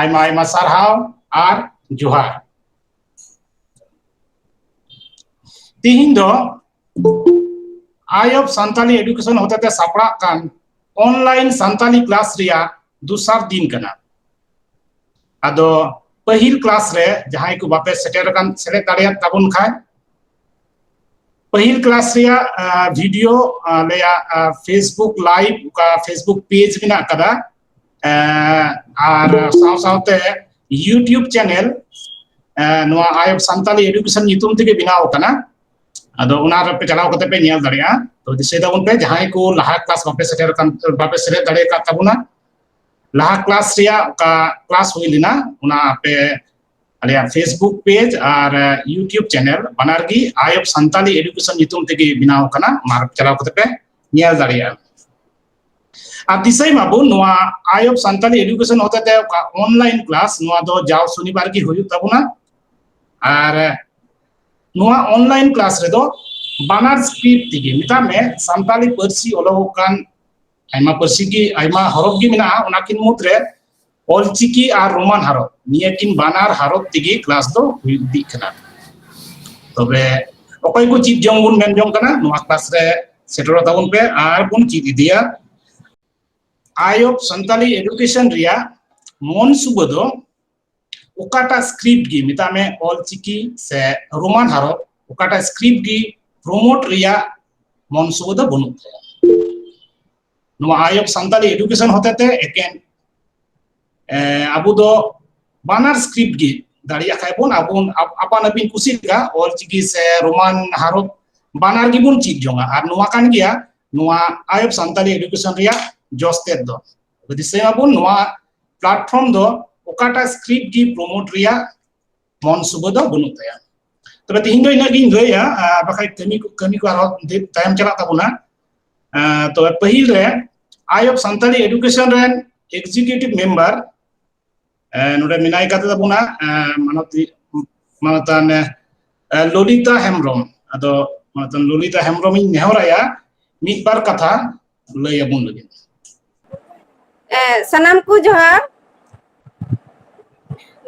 ᱟᱭᱢᱟ ᱟᱭᱢᱟ ᱥᱟᱨᱦᱟᱣ ᱟᱨ ᱡᱚᱦᱟᱨ ᱛᱤᱦᱤᱧ ᱫᱚ ᱟᱭ ᱚᱯᱷ ᱥᱟᱱᱛᱟᱞᱤ ᱮᱰᱩᱠᱮᱥᱚᱱ ᱦᱚᱛᱮᱛᱮ ᱥᱟᱯᱲᱟᱜ ᱠᱟᱱ ᱚᱱᱞᱟᱭᱤᱱ ᱥᱟᱱᱛᱟᱞᱤ ᱠᱞᱟᱥ ᱨᱮᱭᱟᱜ ᱫᱚᱥᱟᱨ ᱫᱤᱱ ᱠᱟᱱᱟ ᱟᱫᱚ ᱯᱟᱹᱦᱤᱞ ᱠᱞᱟᱥ ᱨᱮ ᱡᱟᱦᱟᱸᱭ ᱠᱚ ᱵᱟᱯᱮ ᱥᱮᱴᱮᱨ ᱟᱠᱟᱱ ᱥᱮᱞᱮᱫ ᱫᱟᱲᱮᱭᱟᱜ ᱛᱟᱵᱚᱱ ᱠᱷᱟᱱ ᱯᱟᱹᱦᱤᱞ ᱠᱞᱟᱥ ᱨᱮᱭᱟᱜ ᱵᱷᱤᱰᱤᱭᱳ ᱟᱞᱮᱭᱟᱜ ᱯᱷᱮᱥᱵᱩᱠ ᱞᱟᱭᱤᱵ ᱚᱠᱟ ᱯᱷᱮᱥᱵᱩᱠ ᱯᱮᱡᱽ ᱢᱮᱱᱟᱜ ᱟᱠᱟᱫᱟ ᱟᱨ ᱥᱟᱶ ᱥᱟᱶᱛᱮ ᱤᱭᱩᱴᱩᱵᱽ ᱪᱮᱱᱮᱞ ᱱᱚᱣᱟ ᱟᱭᱚᱵ ᱥᱟᱱᱛᱟᱞᱤ ᱮᱰᱩᱠᱮᱥᱚᱱ ᱧᱩᱛᱩᱢ ᱛᱮᱜᱮ ᱵᱮᱱᱟᱣ ᱟᱠᱟᱱᱟ ᱟᱫᱚ ᱚᱱᱟ ᱨᱮᱯᱮ ᱪᱟᱞᱟᱣ ᱠᱟᱛᱮ ᱯᱮ ᱧᱮᱞ ᱫᱟᱲᱮᱭᱟᱜᱼᱟ ᱛᱚ ᱫᱤᱥᱟᱹᱭ ᱛᱟᱵᱚᱱ ᱯᱮ ᱡᱟᱦᱟᱸᱭ ᱠᱚ ᱞᱟᱦᱟ ᱠᱞᱟᱥ ᱵᱟᱯᱮ ᱥᱮᱴᱮᱨ ᱠᱟᱱ ᱵᱟᱯᱮ ᱥᱮᱞᱮᱫ ᱫᱟᱲᱮ ᱠᱟᱫ ᱛᱟᱵᱚᱱᱟ ᱞᱟᱦᱟ ᱠᱞᱟᱥ ᱨᱮᱭᱟᱜ ᱚᱠᱟ ᱠᱞᱟᱥ ᱦᱩᱭ ᱞᱮᱱᱟ ᱚᱱᱟ ᱟᱯᱮ ᱟᱞᱮᱭᱟᱜ ᱯᱷᱮᱥᱵᱩᱠ ᱯᱮᱡᱽ ᱟᱨ ᱤᱭᱩᱴᱩᱵᱽ ᱪᱮᱱᱮᱞ ᱵᱟᱱᱟᱨ ᱜᱮ ᱟᱭᱚᱵ ᱥᱟᱱᱛᱟᱞᱤ ᱮᱰᱩᱠᱮᱥᱚᱱ ᱧᱩᱛᱩᱢ ᱛᱮᱜᱮ ᱵᱮᱱᱟᱣ ᱟᱠᱟᱱᱟ ᱚᱱᱟ ᱪᱟᱞᱟᱣ ᱠᱟᱛᱮ ᱯᱮ ᱧᱮᱞ ᱫᱟᱲᱮᱭᱟᱜᱼᱟ ᱟᱨ ᱫᱤᱥᱟᱹᱭ ᱢᱟᱵᱚᱱ ᱱᱚᱣᱟ ᱟᱭ ᱚᱯᱷ ᱥᱟᱱᱛᱟᱞᱤ ᱮᱰᱩᱠᱮᱥᱚᱱ ᱦᱚᱛᱮᱛᱮ ᱚᱠᱟ ᱚᱱᱞᱟᱭᱤᱱ ᱠᱞᱟᱥ ᱱᱚᱣᱟ ᱫᱚ ᱡᱟᱣ ᱥᱚᱱᱤᱵᱟᱨ ᱜᱮ ᱦᱩᱭᱩᱜ ᱛᱟᱵᱚᱱᱟ ᱟᱨ ᱱᱚᱣᱟ ᱚᱱᱞᱟᱭᱤᱱ ᱠᱞᱟᱥ ᱨᱮᱫᱚ ᱵᱟᱱᱟᱨ ᱥᱯᱤᱰ ᱛᱮᱜᱮ ᱢᱮᱛᱟᱜ ᱢᱮ ᱥᱟᱱᱛᱟᱞᱤ ᱯᱟᱹᱨᱥᱤ ᱚᱞᱚᱜᱚᱜ ᱠᱟᱱ ᱟᱭᱢᱟ ᱯᱟᱹᱨᱥᱤ ᱜᱮ ᱟᱭᱢᱟ ᱦᱚᱨᱚᱯ ᱜᱮ ᱢᱮᱱᱟᱜᱼᱟ ᱚᱱᱟᱠᱤᱱ ᱢᱩᱫᱽᱨᱮ ᱚᱞᱪᱤᱠᱤ ᱟᱨ ᱨᱳᱢᱟᱱ ᱦᱟᱨᱚᱯ ᱱᱤᱭᱟᱹ ᱠᱤᱱ ᱵᱟᱱᱟᱨ ᱦᱟᱨᱚᱯ ᱛᱮᱜᱮ ᱠᱞᱟᱥ ᱫᱚ ᱦᱩᱭ ᱤᱫᱤᱜ ᱠᱟᱱᱟ ᱛᱚᱵᱮ ᱚᱠᱚᱭ ᱠᱚ ᱪᱮᱫ ᱡᱚᱝ ᱵᱚᱱ ᱢᱮᱱ ᱡᱚᱝ ᱠᱟᱱᱟ ᱱᱚᱣᱟ ᱠᱞᱟᱥ ᱨᱮ ᱥᱮᱴᱮᱨᱚᱜ ᱛᱟᱵᱚᱱ ᱯᱮ ᱟᱨ ᱵᱚᱱ ᱪᱮᱫ ᱤᱫᱤᱭᱟ ᱟᱭᱚᱵ ᱥᱟᱱᱛᱟᱞᱤ ᱮᱰᱩᱠᱮᱥᱚᱱ ᱨᱮᱭᱟᱜ ᱢᱚᱱ ᱥᱩᱵᱟᱹ ᱫᱚ ᱚᱠᱟᱴᱟᱜ ᱥᱠᱨᱤᱯᱴ ᱜᱮ ᱢᱮᱛᱟᱜ ᱢᱮ ᱚᱞᱪᱤᱠᱤ ᱥᱮ ᱨᱳᱢᱟᱱ ᱦᱟᱨᱚᱯ ᱚᱠᱟᱴᱟᱜ ᱥᱠᱨᱤᱯᱴ ᱜᱮ ᱯᱨᱳᱢᱳᱴ ᱨᱮᱭᱟᱜ ᱢᱚᱱ ᱥᱩᱵᱟᱹ ᱫᱚ ᱵᱟᱹᱱᱩᱜ ᱛᱟᱭᱟ ᱱᱚᱣᱟ ᱟᱭᱚᱵ ᱥᱟᱱᱛᱟᱞᱤ ᱮᱰᱩᱠᱮᱥᱚᱱ ᱦᱚᱛᱮᱛᱮ ᱮᱠᱮᱱ ᱟᱵᱚ ᱫᱚ ᱵᱟᱱᱟᱨ ᱥᱠᱨᱤᱯᱴ ᱜᱮ ᱫᱟᱲᱮᱭᱟᱜ ᱠᱷᱟᱡ ᱵᱚᱱ ᱟᱵᱚ ᱟᱯᱟᱱ ᱟᱹᱯᱤᱱ ᱠᱩᱥᱤ ᱞᱮᱠᱟ ᱚᱞ ᱪᱤᱠᱤ ᱥᱮ ᱨᱳᱢᱟᱱ ᱦᱟᱨᱚᱯ ᱵᱟᱱᱟᱨ ᱜᱮᱵᱚᱱ ᱪᱮᱫ ᱡᱚᱝᱟ ᱟᱨ ᱱᱚᱣᱟ ᱠᱟᱱ ᱜᱮᱭᱟ ᱱᱚᱣᱟ ᱟᱭᱚᱵ ᱥᱟᱱᱛᱟᱞᱤ ᱮᱰᱩᱠᱮᱥᱚᱱ ᱨᱮᱭᱟᱜ ᱡᱚᱥ ᱛᱮᱫ ᱫᱚ ᱫᱤᱥᱟᱹᱭᱟᱵᱚᱱ ᱱᱚᱣᱟ ᱯᱞᱟᱴᱯᱷᱚᱨᱢ ᱫᱚ ᱚᱠᱟᱴᱟᱜ ᱥᱠᱨᱤᱯᱴ ᱜᱮ ᱯᱨᱚᱢᱳᱴ ᱨᱮᱭᱟᱜ ᱢᱚᱱ ᱥᱩᱵᱟᱹ ᱫᱚ ᱵᱟᱹᱱᱩᱜ ᱛᱟᱭᱟ ᱛᱚᱵᱮ ᱛᱮᱦᱮᱧ ᱫᱚ ᱤᱱᱟᱹᱜ ᱜᱤᱧ ᱞᱟᱹᱭᱟ ᱵᱟᱠᱷᱟᱡ ᱠᱟᱹᱢᱤ ᱠᱚ ᱠᱟᱹᱢᱤ ᱠᱚ ᱟᱨᱦᱚᱸ ᱛᱟᱭᱚᱢ ᱪᱟᱞᱟᱜ ᱛᱟᱵᱚᱱᱟ ᱛᱚᱵᱮ ᱯᱟᱹᱦᱤᱞ ᱨᱮ ᱟᱭ ᱚᱯᱷ ᱥᱟᱱᱛᱟᱲᱤ ᱮᱰᱩᱠᱮᱥᱚᱱ ᱨᱮᱱ ᱮᱠᱡᱤᱠᱤᱭᱩᱴᱤᱵᱷ ᱢᱮᱢᱵᱟᱨ ᱱᱚᱰᱮ ᱢᱮᱱᱟᱭ ᱠᱟᱛᱮ ᱛᱟᱵᱚᱱᱟ ᱢᱟᱱᱚᱛᱤ ᱢᱟᱱᱚᱛᱟᱱ ᱞᱚᱞᱤᱛᱟ ᱦᱮᱢᱵᱨᱚᱢ ᱟᱫᱚ ᱢᱟᱱᱚᱛᱟᱱ ᱞᱚᱞᱤᱛᱟ ᱦᱮᱢᱵᱨᱚᱢ ᱤᱧ ᱱᱮᱦᱚᱨᱟᱭᱟ ᱢᱤᱫ ᱵᱟᱨ ᱠᱟᱛᱷᱟ ᱞᱟᱹᱭ ᱟᱵᱚᱱ ᱞᱟᱹᱜᱤᱫ ᱥᱟᱱᱟᱢ ᱠᱚ ᱡᱚᱦᱟᱨ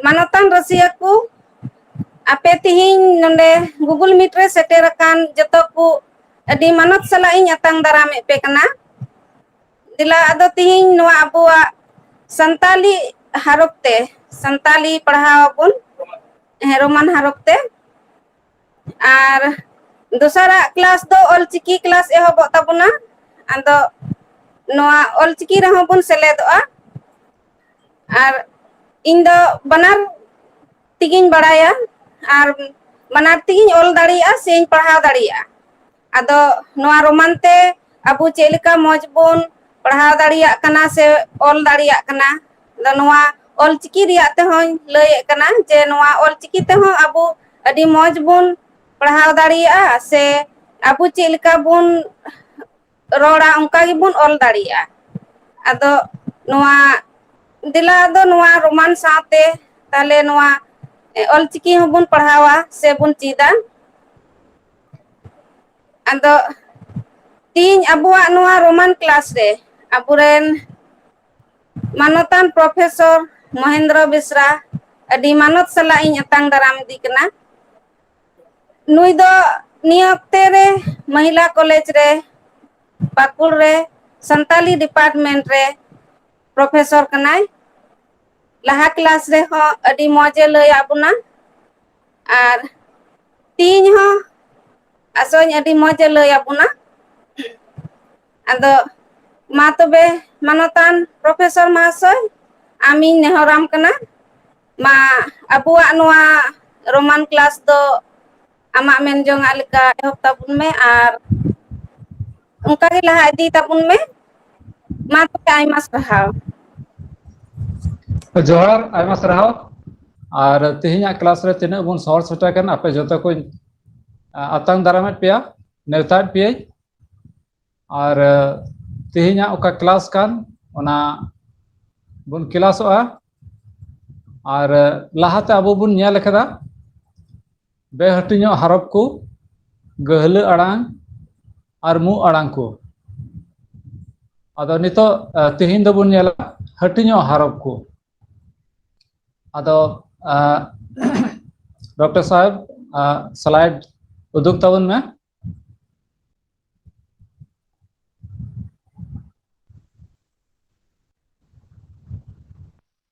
ᱢᱟᱱᱚᱛᱟᱱ ᱨᱟᱹᱥᱤᱭᱟᱹ ᱠᱚ ᱟᱯᱮ ᱛᱤᱦᱤᱧ ᱱᱚᱰᱮ ᱜᱩᱜᱩᱞ ᱢᱤᱴ ᱨᱮ ᱥᱮᱴᱮᱨ ᱟᱠᱟᱱ ᱡᱚᱛᱚ ᱠᱚ ᱟᱹᱰᱤ ᱢᱟᱱᱚᱛ ᱥᱟᱞᱟᱜ ᱤᱧ ᱟᱛᱟᱝ ᱫᱟᱨᱟᱢᱮᱫ ᱯᱮ ᱠᱟᱱᱟ ᱫᱮᱞᱟ ᱟᱫᱚ ᱛᱤᱦᱤᱧ ᱱᱚᱣᱟ ᱟᱵᱚᱣᱟᱜ ᱥᱟᱱᱛᱟᱞᱤ ᱦᱟᱨᱚᱯ ᱛᱮ ᱥᱟᱱᱛᱟᱞᱤ ᱯᱟᱲᱦᱟᱣ ᱟᱵᱚᱱ ᱦᱮᱸ ᱨᱳᱢᱟᱱ ᱦᱟᱨᱚᱯ ᱛᱮ ᱟᱨ ᱫᱚᱥᱟᱨᱟᱜ ᱠᱮᱞᱟᱥ ᱫᱚ ᱚᱞᱪᱤᱠᱤ ᱠᱮᱞᱟᱥ ᱮᱦᱚᱵᱚᱜ ᱛᱟᱵᱚᱱᱟ ᱟᱫᱚ ᱱᱚᱣᱟ ᱚᱞᱪᱤᱠᱤ ᱨᱮᱦᱚᱸ ᱵᱚᱱ ᱥᱮᱞᱮᱫᱚᱜᱼᱟ ᱟᱨ ᱤᱧ ᱫᱚ ᱵᱟᱱᱟᱨ ᱛᱮᱜᱤᱧ ᱵᱟᱲᱟᱭᱟ ᱟᱨ ᱵᱟᱱᱟᱨ ᱛᱮᱜᱤᱧ ᱚᱞ ᱫᱟᱲᱮᱭᱟᱜᱼᱟ ᱥᱮᱧ ᱯᱟᱲᱦᱟᱣ ᱫᱟᱲᱮᱭᱟᱜᱼᱟ ᱟᱫᱚ ᱱᱚᱣᱟ ᱨᱳᱢᱟᱱ ᱛᱮ ᱟᱵᱚ ᱪᱮᱫ ᱞᱮᱠᱟ ᱢᱚᱡᱽ ᱵᱚᱱ ᱯᱟᱲᱦᱟᱣ ᱫᱟᱲᱮᱭᱟᱜ ᱠᱟᱱᱟ ᱥᱮ ᱚᱞ ᱫᱟᱲᱮᱭᱟᱜ ᱠᱟᱱᱟ ᱟᱫᱚ ᱱᱚᱣᱟ ᱚᱞᱪᱤᱠᱤ ᱨᱮᱭᱟᱜ ᱛᱮᱦᱚᱧ ᱞᱟᱹᱭᱮᱫ ᱠᱟᱱᱟ ᱡᱮ ᱱᱚᱣᱟ ᱚᱞᱪᱤᱠᱤ ᱛᱮᱦᱚᱸ ᱟᱵᱚ ᱟᱹᱰᱤ ᱢᱚᱸᱡᱽ ᱵᱚᱱ ᱯᱟᱲᱦᱟᱣ ᱫᱟᱲᱮᱭᱟᱜᱼᱟ ᱥᱮ ᱟᱵᱚ ᱪᱮᱫ ᱞᱮᱠᱟ ᱵᱚᱱ ᱨᱚᱲᱟ ᱚᱱᱠᱟ ᱜᱮᱵᱚᱱ ᱚᱞ ᱫᱟᱲᱮᱭᱟᱜᱼᱟ ᱟᱫᱚ ᱱᱚᱣᱟ ᱫᱮᱞᱟ ᱟᱫᱚ ᱱᱚᱣᱟ ᱨᱳᱢᱟᱱ ᱥᱟᱶᱛᱮ ᱛᱟᱦᱞᱮ ᱱᱚᱣᱟ ᱚᱞᱪᱤᱠᱤ ᱦᱚᱸᱵᱚᱱ ᱯᱟᱲᱦᱟᱣᱟ ᱥᱮᱵᱚᱱ ᱪᱮᱫᱟ ᱟᱫᱚ ᱛᱤᱦᱤᱧ ᱟᱵᱚᱣᱟᱜ ᱱᱚᱣᱟ ᱨᱳᱢᱟᱱ ᱠᱮᱞᱟᱥ ᱨᱮ ᱟᱵᱚᱨᱮᱱ ᱢᱟᱱᱚᱛᱟᱱ ᱯᱨᱚᱯᱷᱮᱥᱚᱨ ᱢᱚᱦᱮᱱᱫᱨᱚ ᱵᱮᱥᱨᱟ ᱟᱹᱰᱤ ᱢᱟᱱᱚᱛ ᱥᱟᱞᱟᱜ ᱤᱧ ᱟᱛᱟᱝ ᱫᱟᱨᱟᱢ ᱤᱫᱤ ᱠᱟᱱᱟ ᱱᱩᱭ ᱫᱚ ᱱᱤᱭᱟᱹ ᱚᱠᱛᱮ ᱨᱮ ᱢᱚᱦᱤᱞᱟ ᱠᱚᱞᱮᱡᱽ ᱨᱮ ᱯᱟᱠᱩᱲ ᱨᱮ ᱥᱟᱱᱛᱟᱞᱤ ᱰᱤᱯᱟᱨᱴᱢᱮᱱᱴ ᱨᱮ ᱯᱨᱚᱯᱷᱮᱥᱚᱨ ᱠᱟᱱᱟᱭ ᱞᱟᱦᱟ ᱠᱮᱞᱟᱥ ᱨᱮᱦᱚᱸ ᱟᱹᱰᱤ ᱢᱚᱸᱡᱽ ᱮ ᱞᱟᱹᱭᱟᱫ ᱵᱚᱱᱟ ᱟᱨ ᱛᱮᱦᱤᱧ ᱦᱚᱸ ᱟᱥᱚᱜ ᱟᱹᱧ ᱟᱹᱰᱤ ᱢᱚᱡᱽ ᱮ ᱞᱟᱹᱭ ᱟᱵᱚᱱᱟ ᱟᱫᱚ ᱢᱟ ᱛᱚᱵᱮ ᱢᱟᱱᱚᱛᱟᱱ ᱯᱨᱚᱯᱷᱮᱥᱚᱨ ᱢᱟᱦᱟᱥᱚᱭ ᱟᱢᱤᱧ ᱱᱮᱦᱚᱨᱟᱢ ᱠᱟᱱᱟ ᱢᱟ ᱟᱵᱚᱣᱟᱜ ᱱᱚᱣᱟ ᱨᱳᱢᱟᱱ ᱠᱞᱟᱥ ᱫᱚ ᱟᱢᱟᱜ ᱢᱮᱱ ᱡᱚᱝᱟᱜ ᱞᱮᱠᱟ ᱮᱦᱚᱵ ᱛᱟᱵᱚᱱ ᱢᱮ ᱟᱨ ᱚᱱᱠᱟ ᱜᱮ ᱞᱟᱦᱟ ᱤᱫᱤ ᱛᱟᱵᱚᱱ ᱢᱮ ᱢᱟ ᱛᱟᱦᱚᱞᱮ ᱟᱭᱢᱟ ᱥᱟᱨᱦᱟᱣ ᱡᱚᱦᱟᱨ ᱟᱭᱢᱟ ᱥᱟᱨᱦᱟᱣ ᱟᱨ ᱛᱮᱦᱮᱧᱟᱜ ᱠᱮᱞᱟᱥ ᱨᱮ ᱛᱤᱱᱟᱹᱜ ᱵᱚᱱ ᱥᱚᱦᱚᱨ ᱥᱮᱴᱮᱨ ᱠᱟᱱᱟ ᱟᱯᱮ ᱡᱚᱛᱚ ᱠᱚᱧ ᱟᱛᱟᱝ ᱫᱟᱨᱟᱢᱮᱫ ᱯᱮᱭᱟ ᱱᱮᱣᱛᱟᱭᱮᱫ ᱯᱮᱭᱟᱹᱧ ᱟᱨ ᱛᱮᱦᱮᱧᱟᱜ ᱚᱠᱟ ᱠᱮᱞᱟᱥ ᱠᱟᱱ ᱚᱱᱟ ᱵᱚᱱ ᱠᱮᱞᱟᱥᱚᱜᱼᱟ ᱟᱨ ᱞᱟᱦᱟᱛᱮ ᱟᱵᱚ ᱵᱚᱱ ᱧᱮᱞ ᱟᱠᱟᱫᱟ ᱵᱮᱦᱟᱹᱴᱤᱧᱚᱜ ᱦᱟᱨᱚᱯ ᱠᱚ ᱜᱟᱹᱦᱞᱟᱹ ᱟᱲᱟᱝ ᱟᱨ ᱢᱩ ᱟᱲᱟᱝ ᱠᱚ ᱟᱫᱚ ᱱᱤᱛᱚᱜ ᱛᱮᱦᱮᱧ ᱫᱚᱵᱚᱱ ᱧᱮᱞᱟ ᱦᱟᱹᱴᱤᱧᱚᱜ ᱦᱟᱨᱚᱯ ᱠᱚ ᱟᱫᱚ ᱰᱚᱠᱴᱚᱨ ᱥᱟᱦᱮᱵ ᱥᱞᱟᱭᱤᱰ ᱩᱫᱩᱜ ᱛᱟᱵᱚᱱ ᱢᱮ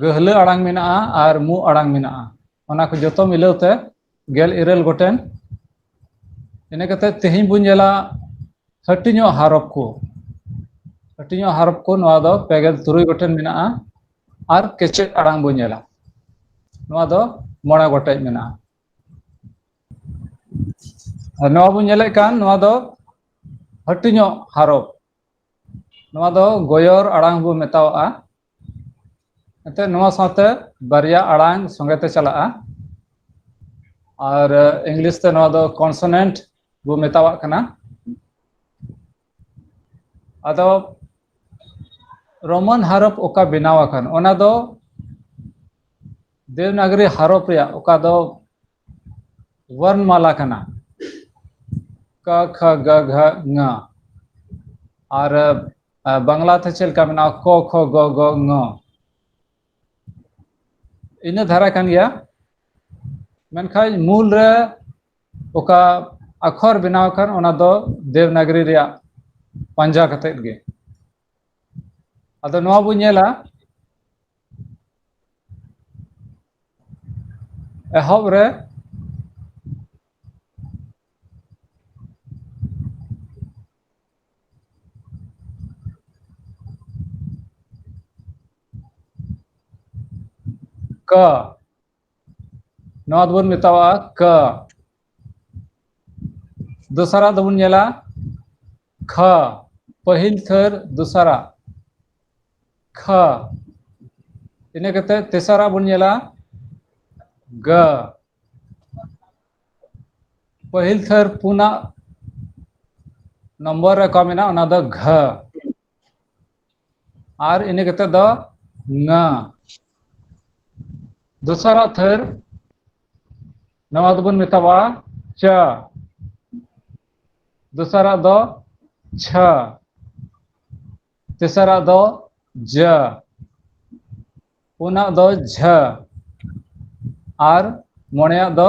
ᱜᱟᱹᱦᱞᱟᱹ ᱟᱲᱟᱝ ᱢᱮᱱᱟᱜᱼᱟ ᱟᱨ ᱢᱩ ᱟᱲᱟᱝ ᱢᱮᱱᱟᱜᱼᱟ ᱚᱱᱟ ᱠᱚ ᱡᱚᱛᱚ ᱢᱤᱞᱟᱹᱣ ᱛᱮ ᱜᱮᱞ ᱤᱨᱟᱹᱞ ᱜᱚᱴᱮᱱ ᱤᱱᱟᱹ ᱠᱟᱛᱮ ᱛᱮᱦᱮᱧ ᱵᱚᱱ ᱧᱮᱞᱟ ᱦᱟᱹᱴᱤᱧᱚᱜ ᱦᱟᱨᱚᱯ ᱠᱚ ᱦᱟᱹᱴᱤᱧᱚᱜ ᱦᱟᱨᱚᱯ ᱠᱚ ᱱᱚᱣᱟ ᱫᱚ ᱯᱮᱜᱮᱞ ᱛᱩᱨᱩᱭ ᱜᱚᱴᱮᱱ ᱢᱮᱱᱟᱜᱼᱟ ᱟᱨ ᱠᱮᱪᱮᱫ ᱟᱲᱟᱝ ᱵᱚᱱ ᱧᱮᱞᱟ ᱱᱚᱣᱟ ᱫᱚ ᱢᱚᱬᱮ ᱜᱚᱴᱮᱡ ᱢᱮᱱᱟᱜᱼᱟ ᱟᱨ ᱱᱚᱣᱟ ᱵᱚᱱ ᱧᱮᱞᱮᱫ ᱠᱟᱱ ᱱᱚᱣᱟ ᱫᱚ ᱦᱟᱹᱴᱤᱧᱚᱜ ᱦᱟᱨᱚᱯ ᱱᱚᱣᱟ ᱫᱚ ᱜᱚᱭᱚᱨ ᱟᱲᱟᱝ ᱵᱚ ᱢᱮᱛᱟᱣᱟᱜᱼᱟ ᱮᱱᱛᱮ ᱱᱚᱣᱟ ᱥᱟᱶᱛᱮ ᱵᱟᱨᱭᱟ ᱟᱲᱟᱝ ᱥᱚᱸᱜᱮ ᱛᱮ ᱪᱟᱞᱟᱜᱼᱟ ᱟᱨ ᱤᱝᱞᱤᱥ ᱛᱮ ᱱᱚᱣᱟ ᱫᱚ ᱠᱚᱱᱥᱚᱱᱮᱱᱴ ᱵᱚ ᱢᱮᱛᱟᱣᱟᱜ ᱠᱟᱱᱟ ᱟᱫᱚ ᱨᱳᱢᱟᱱ ᱦᱟᱨᱚᱯ ᱚᱠᱟ ᱵᱮᱱᱟᱣ ᱟᱠᱟᱱ ᱚᱱᱟ ᱫᱚ ᱫᱮᱵᱽᱱᱟᱜᱚᱨᱤ ᱦᱟᱨᱚᱯ ᱨᱮᱭᱟᱜ ᱚᱠᱟ ᱫᱚ ᱣᱚᱨᱱᱢᱟᱞᱟ ᱠᱟᱱᱟ ᱠᱟ ᱠᱷᱟ ᱜᱟ ᱜᱷᱟ ᱝᱟ ᱟᱨ ᱵᱟᱝᱞᱟ ᱛᱮ ᱪᱮᱫ ᱞᱮᱠᱟ ᱢᱮᱱᱟᱜᱼᱟ ᱠᱚ ᱠᱷᱚ ᱜᱚ ᱜᱚ ᱝᱚ ᱤᱱᱟᱹ ᱫᱷᱟᱨᱟ ᱠᱟᱱ ᱜᱮᱭᱟ ᱢᱮᱱᱠᱷᱟᱱ ᱢᱩᱞ ᱨᱮ ᱚᱠᱟ ᱟᱠᱷᱚᱨ ᱵᱮᱱᱟᱣ ᱟᱠᱟᱱ ᱚᱱᱟ ᱫᱚ ᱫᱮᱵᱽᱱᱟᱜᱨᱤ ᱨᱮᱭᱟᱜ ᱯᱟᱸᱡᱟ ᱠᱟᱛᱮᱫ ᱜᱮ ᱟᱫᱚ ᱱᱚᱣᱟ ᱵᱚᱱ ᱧᱮᱞᱟ ᱮᱦᱚᱵ ᱨᱮ ᱠᱟᱹ ᱱᱚᱣᱟ ᱫᱚᱵᱚᱱ ᱢᱮᱛᱟᱣᱟᱜᱼᱟ ᱠ ᱫᱚᱥᱟᱨᱟᱜ ᱫᱚᱵᱚᱱ ᱧᱮᱞᱟ ᱠᱷ ᱯᱟᱹᱦᱤᱞ ᱛᱷᱟᱹᱨ ᱫᱚᱥᱟᱨᱟᱜ ᱠᱷ ᱤᱱᱟᱹ ᱠᱟᱛᱮ ᱛᱮᱥᱟᱨᱟᱜ ᱵᱚᱱ ᱧᱮᱞᱟ ᱜ ᱯᱟᱹᱦᱤᱞ ᱛᱷᱟᱹᱨ ᱯᱩᱱᱟᱜ ᱱᱚᱢᱵᱚᱨ ᱨᱮ ᱚᱠᱟ ᱢᱮᱱᱟᱜᱼᱟ ᱚᱱᱟ ᱫᱚ ᱜᱷ ᱟᱨ ᱤᱱᱟᱹ ᱠᱟᱛᱮᱫ ᱫᱚ ᱱᱟ ᱫᱚᱥᱟᱨᱟᱜ ᱛᱷᱟᱹᱨ ᱱᱚᱣᱟ ᱫᱚᱵᱚᱱ ᱢᱮᱛᱟᱣᱟᱜᱼᱟ ᱪᱟ ᱫᱚᱥᱟᱨᱟᱜ ᱫᱚ ᱪᱷᱟ ᱛᱮᱥᱟᱨᱟᱜ ᱫᱚ ᱡᱟ ᱯᱩᱱᱟᱜ ᱫᱚ ᱡᱷᱟᱹ ᱟᱨ ᱢᱚᱬᱮᱭᱟᱜ ᱫᱚ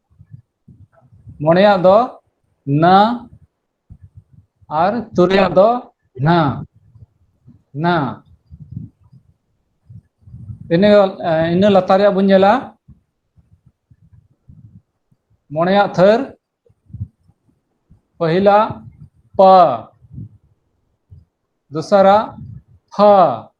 ᱢᱚᱬᱮᱭᱟᱜ ᱫᱚ ᱱᱟ ᱟᱨ ᱛᱩᱨᱩᱭᱟᱜ ᱫᱚ ᱱᱟ ᱱᱟ ᱤᱱᱟᱹ ᱤᱱᱟᱹ ᱞᱟᱛᱟᱨ ᱨᱮᱭᱟᱜ ᱵᱚᱱ ᱧᱮᱞᱟ ᱢᱚᱬᱮᱭᱟᱜ ᱛᱷᱟᱹᱨ ᱯᱟᱹᱦᱤᱞᱟᱜ ᱯᱟ ᱫᱚᱥᱟᱨᱟᱜ ᱯᱷᱟ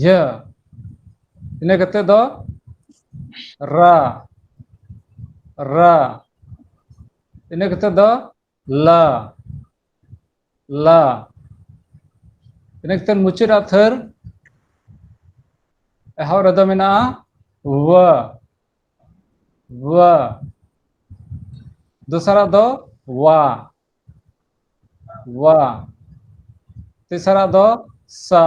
ᱡᱷᱟᱹ ᱤᱱᱟᱹ ᱠᱟᱛᱮ ᱫᱚ ᱨᱟ ᱨᱟ ᱤᱱᱟᱹ ᱠᱟᱛᱮ ᱫᱚ ᱞᱟ ᱞᱟ ᱤᱱᱟᱹ ᱠᱟᱛᱮ ᱢᱩᱪᱟᱹᱫ ᱟᱜ ᱛᱷᱟᱹᱨ ᱮᱦᱚᱵ ᱨᱮᱫᱚ ᱢᱮᱱᱟᱜᱼᱟ ᱣᱟ ᱣᱟ ᱫᱚᱥᱟᱨᱟᱜ ᱫᱚ ᱣᱟ ᱣᱟ ᱛᱮᱥᱟᱨᱟᱜ ᱫᱚ ᱥᱟ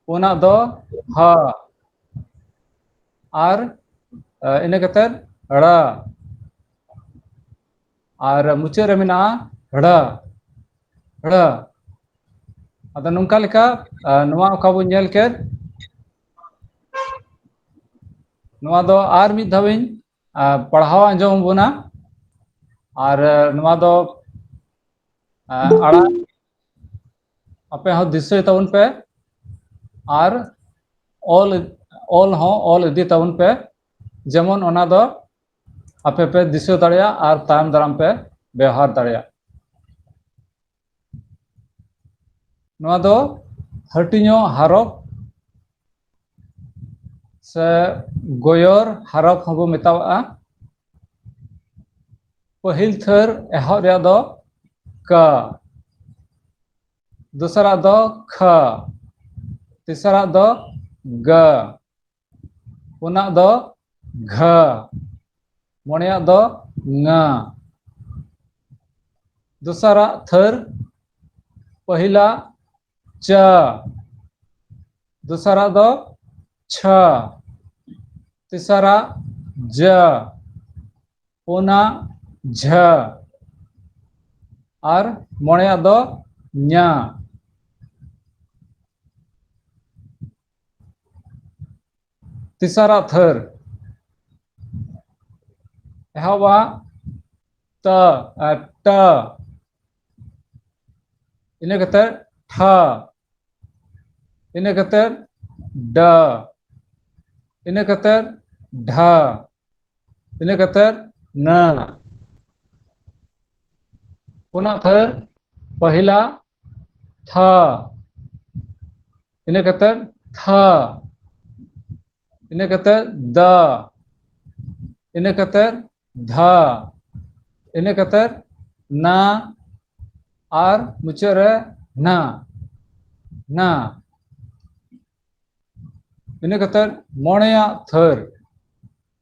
ᱯᱩᱱᱟᱜ ᱫᱚ ᱦᱟ ᱟᱨ ᱤᱱᱟᱹ ᱠᱟᱛᱮᱫ ᱲᱟ ᱟᱨ ᱢᱩᱪᱟᱹᱫ ᱨᱮ ᱢᱮᱱᱟᱜᱼᱟ ᱲᱟ ᱲᱟ ᱟᱫᱚ ᱱᱚᱝᱠᱟ ᱞᱮᱠᱟ ᱱᱚᱣᱟ ᱚᱠᱟ ᱵᱚᱱ ᱧᱮᱞ ᱠᱮᱫ ᱱᱚᱣᱟ ᱫᱚ ᱟᱨ ᱢᱤᱫ ᱫᱷᱟᱣ ᱤᱧ ᱯᱟᱲᱦᱟᱣ ᱟᱸᱡᱚᱢ ᱟᱵᱚᱱᱟ ᱟᱨ ᱱᱚᱣᱟ ᱫᱚ ᱟᱲᱟᱝ ᱟᱯᱮ ᱦᱚᱸ ᱫᱤᱥᱟᱹᱭ ᱛᱟᱵᱚᱱ ᱯᱮ ᱟᱨ ᱚᱞ ᱚᱞ ᱦᱚᱸ ᱚᱞ ᱤᱫᱤ ᱛᱟᱵᱚᱱ ᱯᱮ ᱡᱮᱢᱚᱱ ᱚᱱᱟ ᱫᱚ ᱟᱯᱮ ᱯᱮ ᱫᱤᱥᱟᱹ ᱫᱟᱲᱮᱭᱟᱜ ᱟᱨ ᱛᱟᱭᱚᱢ ᱫᱟᱨᱟᱢ ᱯᱮ ᱵᱮᱣᱦᱟᱨ ᱫᱟᱲᱮᱭᱟᱜ ᱱᱚᱣᱟ ᱫᱚ ᱦᱟᱹᱴᱤᱧᱚᱜ ᱦᱟᱨᱚᱯ ᱥᱮ ᱜᱚᱭᱚᱨ ᱦᱟᱨᱚᱯ ᱦᱚᱸᱵᱚ ᱢᱮᱛᱟᱣᱟᱜᱼᱟ ᱯᱟᱹᱦᱤᱞ ᱛᱷᱟᱹᱨ ᱮᱦᱚᱵ ᱨᱮᱭᱟᱜ ᱫᱚ ᱠᱟ ᱫᱚᱥᱟᱨᱟᱜ ᱫᱚ ᱠᱷᱟ ᱛᱮᱥᱟᱨᱟᱜ ᱫᱚ ᱜᱟ ᱯᱩᱱᱟᱜ ᱫᱚ ᱜᱷᱟ ᱢᱚᱬᱮᱭᱟᱜ ᱫᱚ ᱝᱟ ᱫᱚᱥᱟᱨᱟᱜ ᱛᱷᱟᱹᱨ ᱯᱟᱹᱦᱤᱞᱟ ᱪᱟ ᱫᱚᱥᱟᱨᱟᱜ ᱫᱚ ᱪᱷᱟ ᱛᱮᱥᱟᱨᱟᱜ ᱡᱟ ᱯᱩᱱᱟ ᱡᱷᱟ ᱟᱨ ᱢᱚᱬᱮᱭᱟᱜ ᱫᱚ ᱧᱟ ᱛᱮᱥᱟᱨᱟᱜ ᱛᱷᱟᱹᱨ ᱮᱦᱚᱵᱟᱜ ᱛᱟ ᱟᱨ ᱴᱟ ᱤᱱᱟᱹ ᱠᱟᱛᱮ ᱴᱷᱟ ᱤᱱᱟᱹ ᱠᱟᱛᱮ ᱰᱟ ᱤᱱᱟᱹ ᱠᱟᱛᱮ ᱰᱷᱟ ᱤᱱᱟᱹ ᱠᱟᱛᱮ ᱱᱟ ᱚᱱᱟ ᱛᱷᱟᱹᱨ ᱯᱟᱹᱦᱤᱞᱟ ᱛᱷᱟ ᱤᱱᱟᱹ ᱠᱟᱛᱮᱫ ᱛᱷᱟ ᱤᱱᱟᱹ ᱠᱟᱛᱮᱫ ᱫᱟ ᱤᱱᱟᱹ ᱠᱟᱛᱮᱫ ᱫᱷᱟ ᱤᱱᱟᱹ ᱠᱟᱛᱮᱫ ᱱᱟ ᱟᱨ ᱢᱩᱪᱟᱹᱫ ᱨᱮ ᱱᱟ ᱱᱟ ᱤᱱᱟᱹ ᱠᱟᱛᱮᱫ ᱢᱚᱬᱮᱭᱟᱜ ᱛᱷᱟᱹᱨ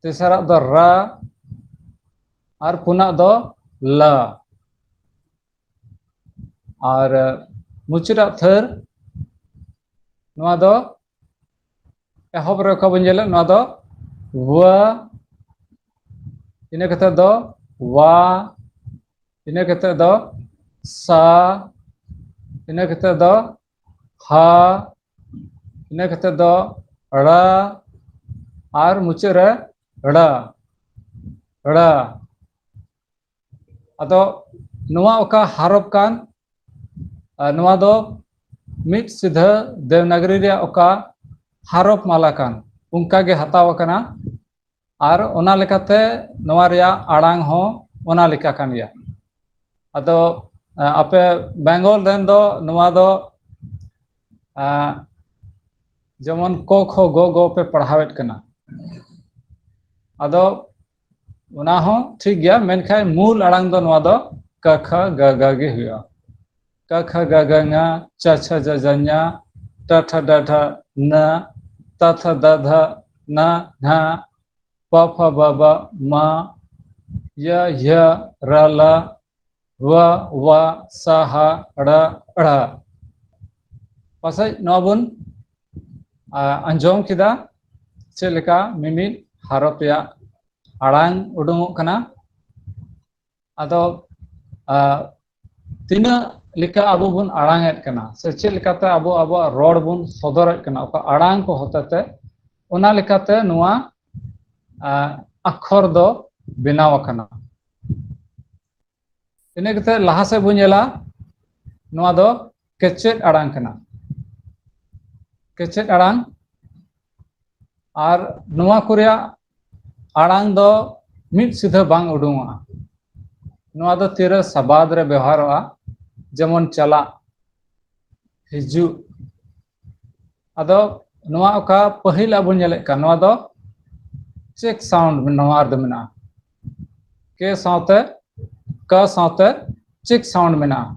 ᱛᱮᱥᱟᱨᱟᱜ ᱫᱚ ᱨᱟ ᱟᱨ ᱯᱩᱱᱟᱜ ᱫᱚ ᱞᱟ ᱟᱨ ᱢᱩᱪᱟᱹᱫᱟᱜ ᱛᱷᱟᱹᱨ ᱱᱚᱣᱟ ᱫᱚ ᱮᱦᱚᱵ ᱨᱮ ᱚᱠᱟ ᱵᱚᱱ ᱧᱮᱞᱮᱫ ᱱᱚᱣᱟ ᱫᱚ ᱣᱟ ᱤᱱᱟᱹ ᱠᱟᱛᱮ ᱫᱚ ᱣᱟ ᱤᱱᱟᱹ ᱠᱟᱛᱮ ᱫᱚ ᱥᱟ ᱤᱱᱟᱹ ᱠᱟᱛᱮ ᱫᱚ ᱦᱟ ᱤᱱᱟᱹ ᱠᱟᱛᱮᱫ ᱫᱚ ᱲᱟ ᱟᱨ ᱢᱩᱪᱟᱹᱫ ᱨᱮ ᱲᱟ ᱲᱟ ᱟᱫᱚ ᱱᱚᱣᱟ ᱚᱠᱟ ᱦᱟᱨᱚᱯ ᱠᱟᱱ ᱱᱚᱣᱟ ᱫᱚ ᱢᱤᱫ ᱥᱤᱫᱷᱟᱹ ᱫᱮᱵᱽᱱᱟᱜᱚᱨᱤ ᱨᱮᱭᱟᱜ ᱚᱠᱟ ᱦᱟᱨᱚᱯ ᱢᱟᱞᱟ ᱠᱟᱱ ᱚᱱᱠᱟᱜᱮ ᱦᱟᱛᱟᱣ ᱟᱠᱟᱱᱟ ᱟᱨ ᱚᱱᱟ ᱞᱮᱠᱟᱛᱮ ᱱᱚᱣᱟ ᱨᱮᱭᱟᱜ ᱟᱲᱟᱝ ᱦᱚᱸ ᱚᱱᱟ ᱞᱮᱠᱟ ᱠᱟᱱ ᱜᱮᱭᱟ ᱟᱫᱚ ᱟᱯᱮ ᱵᱮᱝᱜᱚᱞ ᱨᱮᱱ ᱫᱚ ᱱᱚᱣᱟ ᱫᱚ ᱡᱮᱢᱚᱱ ᱠᱚ ᱠᱷᱚ ᱜᱚ ᱜᱚ ᱯᱮ ᱯᱟᱲᱦᱟᱣᱮᱫ ᱠᱟᱱᱟ ᱟᱫᱚ ᱚᱱᱟ ᱦᱚᱸ ᱴᱷᱤᱠ ᱜᱮᱭᱟ ᱢᱮᱱᱠᱷᱟᱱ ᱢᱩᱞ ᱟᱲᱟᱝ ᱫᱚ ᱱᱚᱣᱟ ᱫᱚ ᱠᱟ ᱠᱷᱟ ᱜᱟ ᱜᱟ ᱜᱮ ᱦᱩᱭᱩᱜᱼᱟ ᱠᱟ ᱠᱷᱟ ᱜᱟ ᱜᱟ ᱝᱟ ᱪᱟ ᱪᱷᱟ ᱡᱟ ᱡᱟ ᱧᱟ ᱴᱟ ᱴᱷᱟ ᱰᱟ ᱰᱷᱟ ᱱᱟ ᱛᱟ ᱛᱷᱟ ᱫᱟ ᱫᱷᱟ ᱱᱟ ᱜᱷᱟ ᱯᱟ ᱯᱷᱟ ᱵᱟ ᱵᱟ ᱢᱟ ᱭᱟ ᱭᱷᱟ ᱨᱟ ᱞᱟ ᱣᱟ ᱣᱟ ᱥᱟ ᱦᱟ ᱲᱟ ᱲᱟ ᱯᱟᱥᱮᱡ ᱱᱚᱣᱟ ᱵᱚᱱ ᱟᱸᱡᱚᱢ ᱠᱮᱫᱟ ᱪᱮᱫ ᱞᱮᱠᱟ ᱢᱤᱢᱤᱫ ᱦᱟᱨᱚᱯ ᱨᱮᱭᱟᱜ ᱟᱲᱟᱝ ᱩᱰᱩᱝᱚᱜ ᱠᱟᱱᱟ ᱟᱫᱚ ᱟᱜ ᱛᱤᱱᱟᱹᱜ ᱞᱮᱠᱟ ᱟᱵᱚ ᱵᱚᱱ ᱟᱲᱟᱝ ᱮᱫ ᱠᱟᱱᱟ ᱥᱮ ᱪᱮᱫ ᱞᱮᱠᱟᱛᱮ ᱟᱵᱚ ᱟᱵᱚᱣᱟᱜ ᱨᱚᱲ ᱵᱚᱱ ᱥᱚᱫᱚᱨᱮᱫ ᱠᱟᱱᱟ ᱚᱠᱟ ᱟᱲᱟᱝ ᱠᱚ ᱦᱚᱛᱮᱛᱮ ᱚᱱᱟ ᱞᱮᱠᱟᱛᱮ ᱱᱚᱣᱟ ᱟᱜ ᱟᱠᱷᱚᱨ ᱫᱚ ᱵᱮᱱᱟᱣ ᱟᱠᱟᱱᱟ ᱤᱱᱟᱹ ᱠᱟᱛᱮ ᱞᱟᱦᱟ ᱥᱮᱫ ᱵᱚᱱ ᱧᱮᱞᱟ ᱱᱚᱣᱟ ᱫᱚ ᱠᱮᱪᱮᱫ ᱟᱲᱟᱝ ᱠᱟᱱᱟ ᱠᱮᱪᱮᱫ ᱟᱲᱟᱝ ᱟᱨ ᱱᱚᱣᱟ ᱠᱚ ᱨᱮᱭᱟᱜ ᱟᱲᱟᱝ ᱫᱚ ᱢᱤᱫ ᱥᱤᱫᱷᱟᱹ ᱵᱟᱝ ᱩᱰᱩᱝᱚᱜᱼᱟ ᱱᱚᱣᱟ ᱫᱚ ᱛᱤᱨᱟᱹ ᱥᱟᱵᱟᱫ ᱨᱮ ᱵᱮᱣᱦᱟᱨᱚᱜᱼᱟ ᱡᱮᱢᱚᱱ ᱪᱟᱞᱟᱜ ᱦᱤᱡᱩᱜ ᱟᱫᱚ ᱱᱚᱣᱟ ᱚᱠᱟ ᱯᱟᱹᱦᱤᱞ ᱟᱵᱚ ᱧᱮᱞᱮᱫ ᱠᱟᱱ ᱱᱚᱣᱟ ᱫᱚ ᱪᱮᱠ ᱥᱟᱣᱩᱱᱰ ᱱᱚᱣᱟ ᱨᱮᱫᱚ ᱢᱮᱱᱟᱜᱼᱟ ᱠᱮ ᱥᱟᱶᱛᱮ ᱠᱟ ᱥᱟᱶᱛᱮ ᱪᱮᱠ ᱥᱟᱣᱩᱱᱰ ᱢᱮᱱᱟᱜᱼᱟ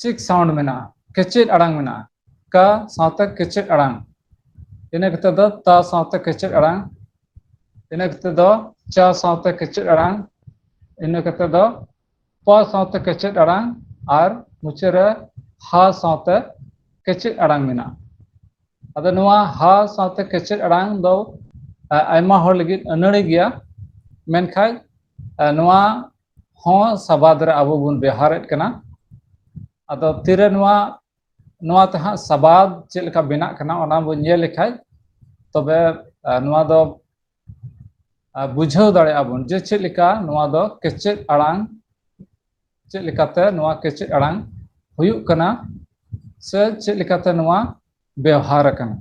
ᱪᱤᱠ ᱥᱟᱣᱩᱱᱰ ᱢᱮᱱᱟᱜᱼᱟ ᱠᱮᱪᱮᱫ ᱟᱲᱟᱝ ᱢᱮᱱᱟᱜᱼᱟ ᱠᱟ ᱥᱟᱶᱛᱮ ᱠᱮᱪᱮᱫ ᱟᱲᱟᱝ ᱤᱱᱟᱹ ᱠᱟᱛᱮ ᱫᱚ ᱛᱟ ᱥᱟᱶᱛᱮ ᱠᱮᱪᱮᱫ ᱟᱲᱟᱝ ᱤᱱᱟᱹ ᱠᱟᱛᱮ ᱫᱚ ᱪᱟ ᱥᱟᱶᱛᱮ ᱠᱮᱪᱮᱫ ᱟᱲᱟᱝ ᱤᱱᱟᱹ ᱠᱟᱛᱮ ᱫᱚ ᱯᱟ ᱥᱟᱶᱛᱮ ᱠᱮᱪᱮᱫ ᱟᱲᱟᱝ ᱟᱨ ᱢᱩᱪᱟᱹᱫ ᱨᱮ ᱦᱟ ᱥᱟᱶᱛᱮ ᱠᱮᱪᱮᱫ ᱟᱲᱟᱝ ᱢᱮᱱᱟᱜᱼᱟ ᱟᱫᱚ ᱱᱚᱣᱟ ᱦᱟ ᱥᱟᱶᱛᱮ ᱠᱮᱪᱮᱫ ᱟᱲᱟᱝ ᱫᱚ ᱟᱭᱢᱟ ᱦᱚᱲ ᱞᱟᱹᱜᱤᱫ ᱟᱹᱱᱟᱹᱲᱤ ᱜᱮᱭᱟ ᱢᱮᱱᱠᱷᱟᱡ ᱱᱚᱣᱟ ᱦᱚᱸ ᱥᱟᱵᱟᱫ ᱨᱮ ᱟᱵᱚ ᱵᱚᱱ ᱵᱮᱣᱦᱟᱨᱮᱫ ᱠᱟᱱᱟ ᱟᱫᱚ ᱛᱤᱨᱮ ᱱᱚᱣᱟ ᱱᱚᱣᱟ ᱛᱮ ᱦᱟᱸᱜ ᱥᱟᱵᱟᱫ ᱪᱮᱫ ᱞᱮᱠᱟ ᱵᱮᱱᱟᱜ ᱠᱟᱱᱟ ᱚᱱᱟ ᱵᱚᱱ ᱧᱮᱞ ᱞᱮᱠᱷᱟᱡ ᱛᱚᱵᱮ ᱱᱚᱣᱟ ᱫᱚ ᱵᱩᱡᱷᱟᱹᱣ ᱫᱟᱲᱮᱭᱟᱜᱼᱟ ᱵᱚᱱ ᱡᱮ ᱪᱮᱫ ᱞᱮᱠᱟ ᱱᱚᱣᱟ ᱫᱚ ᱠᱮᱪᱮᱫ ᱟᱲᱟᱝ ᱪᱮᱫ ᱞᱮᱠᱟᱛᱮ ᱱᱚᱣᱟ ᱠᱮᱪᱮᱫ ᱟᱲᱟᱝ ᱦᱩᱭᱩᱜ ᱠᱟᱱᱟ ᱥᱮ ᱪᱮᱫ ᱞᱮᱠᱟᱛᱮ ᱱᱚᱣᱟ ᱵᱮᱣᱦᱟᱨ ᱟᱠᱟᱱᱟ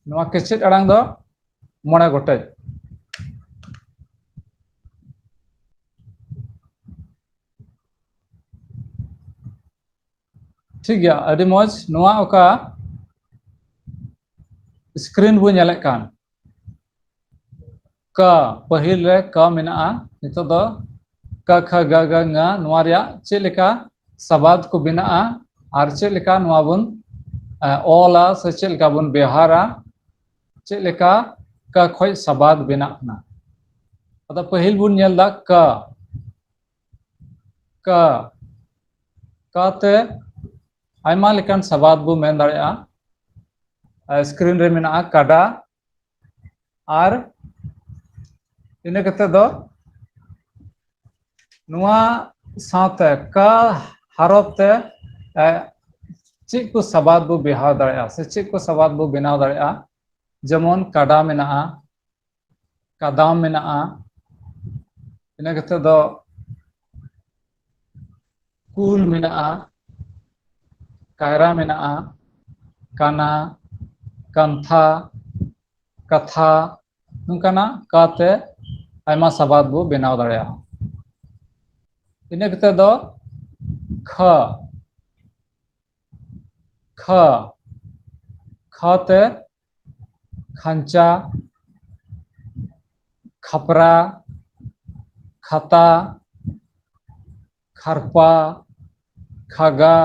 ᱱᱚᱣᱟ ᱠᱮᱪᱮᱫ ᱟᱲᱟᱝ ᱫᱚ ᱢᱚᱬᱮ ᱜᱚᱴᱮᱡ ᱴᱷᱤᱠ ᱜᱮᱭᱟ ᱟᱹᱰᱤ ᱢᱚᱡᱽ ᱱᱚᱣᱟ ᱚᱠᱟ ᱥᱠᱨᱤᱱ ᱵᱚ ᱧᱮᱞᱮᱫ ᱠᱟᱱ ᱠᱟ ᱯᱟᱹᱦᱤᱞ ᱨᱮ ᱠᱟ ᱢᱮᱱᱟᱜᱼᱟ ᱱᱤᱛᱚᱜ ᱫᱚ ᱠᱟ ᱠᱷᱟ ᱜᱟ ᱜᱟ ᱝᱟ ᱱᱚᱣᱟ ᱨᱮᱭᱟᱜ ᱪᱮᱫ ᱞᱮᱠᱟ ᱥᱟᱵᱟᱫ ᱠᱚ ᱵᱮᱱᱟᱜᱼᱟ ᱟᱨ ᱪᱮᱫ ᱞᱮᱠᱟ ᱱᱚᱣᱟ ᱵᱚᱱ ᱚᱞᱟ ᱥᱮ ᱪᱮᱫ ᱞᱮᱠᱟ ᱵᱚᱱ ᱵᱮᱣᱦᱟᱨᱟ ᱪᱮᱫ ᱞᱮᱠᱟ ᱠᱟ ᱠᱷᱚᱡ ᱥᱟᱵᱟᱫ ᱵᱮᱱᱟᱜ ᱠᱟᱱᱟ ᱟᱫᱚ ᱯᱟᱹᱦᱤᱞ ᱵᱚᱱ ᱧᱮᱞ ᱫᱟ ᱠᱟ ᱠᱟ ᱠᱟ ᱛᱮ ᱟᱭᱢᱟ ᱞᱮᱠᱟᱱ ᱥᱟᱵᱟᱫ ᱵᱚ ᱢᱮᱱ ᱫᱟᱲᱮᱭᱟᱜᱼᱟ ᱥᱠᱨᱤᱱ ᱨᱮ ᱢᱮᱱᱟᱜᱼᱟ ᱠᱟᱰᱟ ᱟᱨ ᱤᱱᱟᱹ ᱠᱟᱛᱮᱫ ᱫᱚ ᱱᱚᱣᱟ ᱥᱟᱶᱛᱮ ᱠᱟ ᱦᱚᱨᱚᱯ ᱛᱮ ᱮ ᱪᱮᱫ ᱠᱚ ᱥᱟᱵᱟᱫ ᱵᱚ ᱵᱮᱣᱦᱟᱨ ᱫᱟᱲᱮᱭᱟᱜᱼᱟ ᱥᱮ ᱪᱮᱫ ᱠᱚ ᱥᱟᱵᱟᱫ ᱵᱚ ᱵᱮᱱᱟᱣ ᱫᱟᱲᱮᱭᱟᱜᱼᱟ ᱡᱮᱢᱚᱱ ᱠᱟᱰᱟ ᱢᱮᱱᱟᱜᱼᱟ ᱠᱟᱫᱟᱢ ᱢᱮᱱᱟᱜᱼᱟ ᱤᱱᱟᱹ ᱠᱟᱛᱮᱫ ᱫᱚ ᱠᱩᱞ ᱢᱮᱱᱟᱜᱼᱟ ᱠᱟᱭᱨᱟ ᱢᱮᱱᱟᱜᱼᱟ ᱠᱟᱱᱟ ᱠᱟᱱᱛᱷᱟ ᱠᱟᱛᱷᱟ ᱱᱚᱝᱠᱟᱱᱟᱜ ᱠᱟ ᱛᱮ ᱟᱭᱢᱟ ᱥᱟᱵᱟᱫ ᱵᱚ ᱵᱮᱱᱟᱣ ᱫᱟᱲᱮᱭᱟᱜᱼᱟ ᱤᱱᱟᱹ ᱠᱟᱛᱮ ᱫᱚ ᱠᱷᱟ ᱠᱷᱟ ᱠᱷᱟ ᱛᱮ ᱠᱷᱟᱧᱪᱟ ᱠᱷᱟᱯᱨᱟ ᱠᱷᱟᱛᱟ ᱠᱷᱟᱨᱯᱟ ᱠᱷᱟᱜᱟ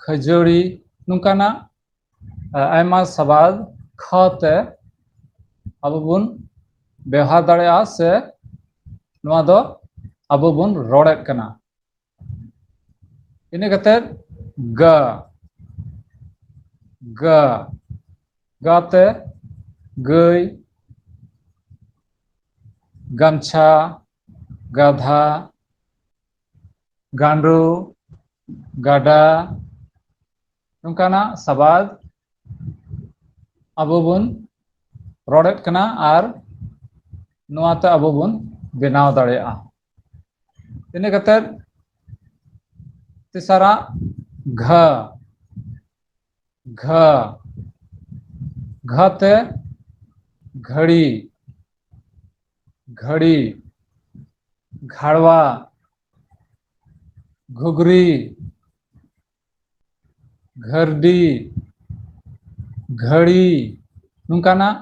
ᱠᱷᱟᱹᱡᱟᱹᱲᱤ ᱱᱚᱝᱠᱟᱱᱟᱜ ᱟᱭᱢᱟ ᱥᱟᱵᱟᱫ ᱠᱷᱟ ᱛᱮ ᱟᱵᱚ ᱵᱚᱱ ᱵᱮᱣᱦᱟᱨ ᱫᱟᱲᱮᱭᱟᱜᱼᱟ ᱥᱮ ᱱᱚᱣᱟ ᱫᱚ ᱟᱵᱚ ᱵᱚᱱ ᱨᱚᱲᱮᱫ ᱠᱟᱱᱟ ᱤᱱᱟᱹ ᱠᱟᱛᱮᱫ ᱜᱟᱹ ᱜᱟᱹ ᱜᱟ ᱛᱮ ᱜᱟᱹᱭ ᱜᱟᱢᱪᱷᱟ ᱜᱟᱫᱷᱟ ᱜᱟᱸᱰᱳ ᱜᱟᱰᱟ ᱱᱚᱝᱠᱟᱱᱟᱜ ᱥᱟᱵᱟᱫ ᱟᱵᱚ ᱵᱚᱱ ᱨᱚᱲᱮᱫ ᱠᱟᱱᱟ ᱟᱨ ᱱᱚᱣᱟᱛᱮ ᱟᱵᱚ ᱵᱚᱱ ᱵᱮᱱᱟᱣ ᱫᱟᱲᱮᱭᱟᱜᱼᱟ ᱤᱱᱟᱹ ᱠᱟᱛᱮᱫ ᱛᱮᱥᱟᱨᱟᱜ ᱜᱷᱟ ᱜᱷᱟ ᱜᱷᱟ ᱛᱮ ᱜᱷᱟᱹᱲᱤ ᱜᱷᱟᱹᱲᱤ ᱜᱷᱟᱲᱣᱟ ᱜᱷᱩᱜᱽᱨᱤ ᱜᱷᱟᱹᱨᱰᱤ ᱜᱷᱟᱹᱲᱤ ᱱᱚᱝᱠᱟᱱᱟᱜ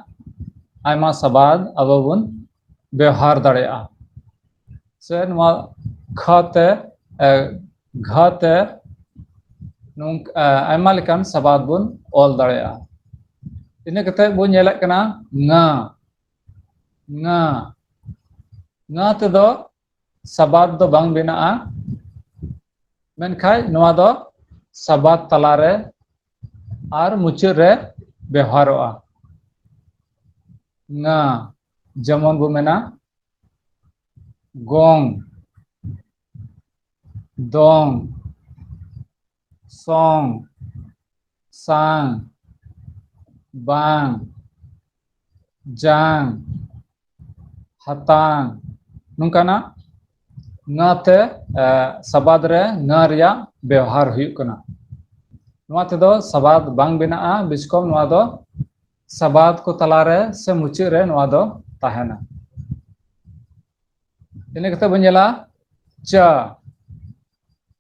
ᱟᱭᱢᱟ ᱥᱟᱵᱟᱫ ᱟᱵᱚ ᱵᱚᱱ ᱵᱮᱣᱦᱟᱨ ᱫᱟᱲᱮᱭᱟᱜᱼᱟ ᱥᱮ ᱱᱚᱣᱟ ᱠᱷᱟ ᱛᱮ ᱜᱷᱟ ᱛᱮ ᱱᱚᱝᱠᱟ ᱟᱭᱢᱟ ᱞᱮᱠᱟᱱ ᱥᱟᱵᱟᱫ ᱵᱚᱱ ᱚᱞ ᱫᱟᱲᱮᱭᱟᱜᱼᱟ ᱤᱱᱟᱹ ᱠᱟᱛᱮᱫ ᱵᱚᱱ ᱧᱮᱞᱮᱫ ᱠᱟᱱᱟ ᱝᱟ ᱝᱟ ᱝᱟ ᱛᱮᱫᱚ ᱥᱟᱵᱟᱫ ᱫᱚ ᱵᱟᱝ ᱵᱮᱱᱟᱜᱼᱟ ᱢᱮᱱᱠᱷᱟᱡ ᱱᱚᱣᱟ ᱫᱚ ᱥᱟᱵᱟᱫ ᱛᱟᱞᱟᱨᱮ ᱟᱨ ᱢᱩᱪᱟᱹᱫ ᱨᱮ ᱵᱮᱣᱦᱟᱨᱚᱜᱼᱟ ᱱᱟ ᱡᱮᱢᱚᱱ ᱵᱚ ᱢᱮᱱᱟ ᱜᱚᱝ ᱫᱚᱝ ᱥᱚᱝ ᱥᱟᱝ ᱵᱟᱝ ᱡᱟᱝ ᱦᱟᱛᱟᱝ ᱱᱚᱝᱠᱟᱱᱟᱜ ᱱᱟ ᱛᱮ ᱥᱟᱵᱟᱫ ᱨᱮ ᱱᱟ ᱨᱮᱭᱟᱜ ᱵᱮᱣᱦᱟᱨ ᱦᱩᱭᱩᱜ ᱠᱟᱱᱟ ᱱᱚᱣᱟ ᱛᱮᱫᱚ ᱥᱟᱵᱟᱫ ᱵᱟᱝ ᱵᱮᱱᱟᱜᱼᱟ ᱵᱤᱥᱠᱚᱢ ᱱᱚᱣᱟ ᱫᱚ ᱥᱟᱵᱟᱫ ᱠᱚ ᱛᱟᱞᱟᱨᱮ ᱥᱮ ᱢᱩᱪᱟᱹᱫ ᱨᱮ ᱱᱚᱣᱟ ᱫᱚ ᱛᱟᱦᱮᱱᱟ ᱤᱱᱟᱹ ᱠᱟᱛᱮ ᱵᱚᱱ ᱧᱮᱞᱟ ᱪᱟ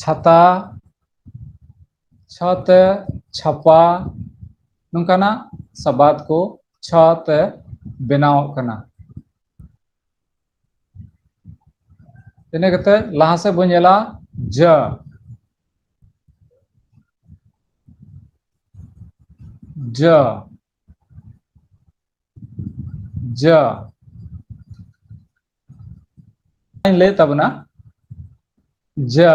ᱪᱷᱟᱛᱟ ᱪᱷᱟ ᱛᱮ ᱪᱷᱟᱯᱟ ᱱᱚᱝᱠᱟᱱᱟᱜ ᱥᱟᱵᱟᱫ ᱠᱚ ᱪᱷᱟ ᱛᱮ ᱵᱮᱱᱟᱣᱚᱜ ᱠᱟᱱᱟ ᱤᱱᱟᱹ ᱠᱟᱛᱮᱫ ᱞᱟᱦᱟ ᱥᱮᱫ ᱵᱚᱱ ᱧᱮᱞᱟ ᱡᱟᱹ ᱡᱟᱹ ᱡᱟ ᱤᱧ ᱞᱟᱹᱭᱮᱫ ᱛᱟᱵᱚᱱᱟ ᱡᱟ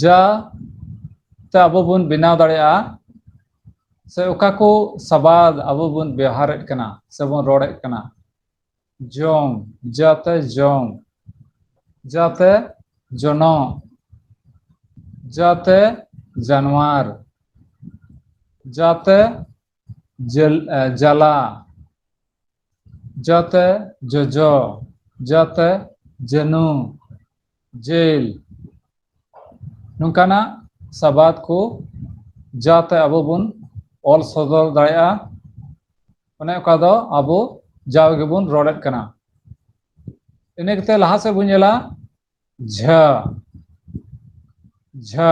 ᱡᱟ ᱛᱮ ᱟᱵᱚ ᱵᱚᱱ ᱵᱮᱱᱟᱣ ᱫᱟᱲᱮᱭᱟᱜᱼᱟ ᱥᱮ ᱚᱠᱟ ᱠᱚ ᱥᱟᱵᱟᱫ ᱟᱵᱚ ᱵᱚᱱ ᱵᱮᱣᱦᱟᱨᱮᱫ ᱠᱟᱱᱟ ᱥᱮᱵᱚᱱ ᱨᱚᱲᱮᱫ ᱠᱟᱱᱟ ᱡᱚᱝ ᱡᱟ ᱛᱮ ᱡᱚᱝ ᱡᱟ ᱛᱮ ᱡᱚᱱᱚᱜ ᱡᱟ ᱛᱮ ᱡᱟᱱᱣᱟᱨ ᱡᱟ ᱛᱮ ᱡᱟᱹᱞ ᱡᱟᱞᱟ ᱡᱟ ᱛᱮ ᱡᱚᱡᱚ ᱡᱟ ᱛᱮ ᱡᱟᱹᱱᱩ ᱡᱮᱞ ᱱᱚᱝᱠᱟᱱᱟᱜ ᱥᱟᱵᱟᱫ ᱠᱚ ᱡᱟᱛᱮ ᱟᱵᱚ ᱵᱚᱱ ᱚᱞ ᱥᱚᱫᱚᱨ ᱫᱟᱲᱮᱭᱟᱜᱼᱟ ᱚᱱᱮ ᱚᱠᱟ ᱫᱚ ᱟᱵᱚ ᱡᱟᱣ ᱜᱮᱵᱚᱱ ᱨᱚᱲᱮᱫ ᱠᱟᱱᱟ ᱤᱱᱟᱹ ᱠᱟᱛᱮ ᱞᱟᱦᱟ ᱥᱮᱫ ᱵᱚᱱ ᱧᱮᱞᱟ ᱡᱷᱟ ᱡᱷᱟ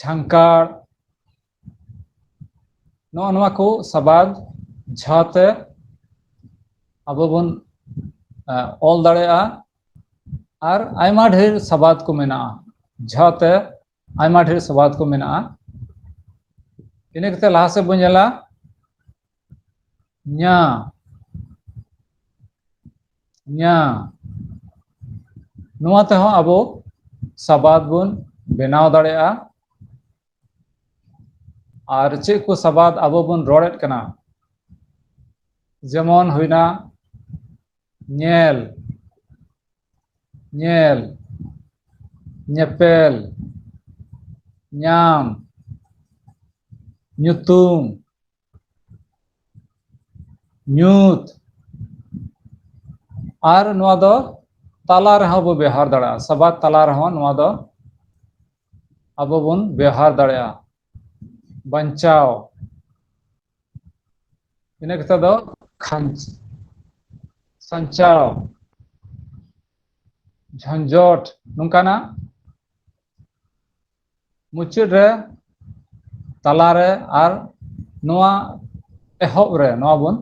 ᱡᱷᱟᱝᱠᱟᱲ ᱱᱚᱜᱼᱚ ᱱᱚᱣᱟ ᱠᱚ ᱥᱟᱵᱟᱫ ᱡᱷᱟᱛᱮ ᱟᱵᱚ ᱵᱚᱱ ᱚᱞ ᱫᱟᱲᱮᱭᱟᱜᱼᱟ ᱟᱨ ᱟᱭᱢᱟ ᱰᱷᱮᱨ ᱥᱟᱵᱟᱫ ᱠᱚ ᱢᱮᱱᱟᱜᱼᱟ ᱡᱷᱟᱛᱮ ᱟᱭᱢᱟ ᱰᱷᱮᱨ ᱥᱟᱵᱟᱫ ᱠᱚ ᱢᱮᱱᱟᱜᱼᱟ ᱤᱱᱟᱹ ᱠᱟᱛᱮ ᱞᱟᱦᱟ ᱥᱮᱫ ᱵᱚᱱ ᱧᱮᱞᱟ ᱧᱟ ᱧᱟ ᱱᱚᱣᱟ ᱛᱮᱦᱚᱸ ᱟᱵᱚ ᱥᱟᱵᱟᱫ ᱵᱚᱱ ᱵᱮᱱᱟᱣ ᱫᱟᱲᱮᱭᱟᱜᱼᱟ ᱟᱨ ᱪᱮᱫ ᱠᱚ ᱥᱟᱵᱟᱫ ᱟᱵᱚ ᱵᱚᱱ ᱨᱚᱲᱮᱫ ᱠᱟᱱᱟ ᱡᱮᱢᱚᱱ ᱦᱩᱭᱱᱟ ᱧᱮᱞ ᱧᱮᱞ ᱧᱮᱯᱮᱞ ᱧᱟᱢ ᱧᱩᱛᱩᱢ ᱧᱩᱛ ᱟᱨ ᱱᱚᱣᱟ ᱫᱚ ᱛᱟᱞᱟ ᱨᱮᱦᱚᱸ ᱵᱚ ᱵᱮᱣᱦᱟᱨ ᱫᱟᱲᱮᱭᱟᱜᱼᱟ ᱥᱟᱵᱟᱫ ᱛᱟᱞᱟ ᱨᱮᱦᱚᱸ ᱱᱚᱣᱟ ᱫᱚ ᱟᱵᱚ ᱵᱚᱱ ᱵᱮᱣᱦᱟᱨ ᱫᱟᱲᱮᱭᱟᱜᱼᱟ ᱵᱟᱧᱪᱟᱣ ᱤᱱᱟᱹ ᱠᱟᱛᱮ ᱫᱚ ᱠᱷᱟᱧᱪ ᱥᱟᱧᱪᱟᱣ ᱡᱷᱟᱸᱡᱚᱴ ᱱᱚᱝᱠᱟᱱᱟᱜ ᱢᱩᱪᱟᱹᱫ ᱨᱮ ᱛᱟᱞᱟᱨᱮ ᱟᱨ ᱱᱚᱣᱟ ᱮᱦᱚᱵ ᱨᱮ ᱱᱚᱣᱟ ᱵᱚᱱ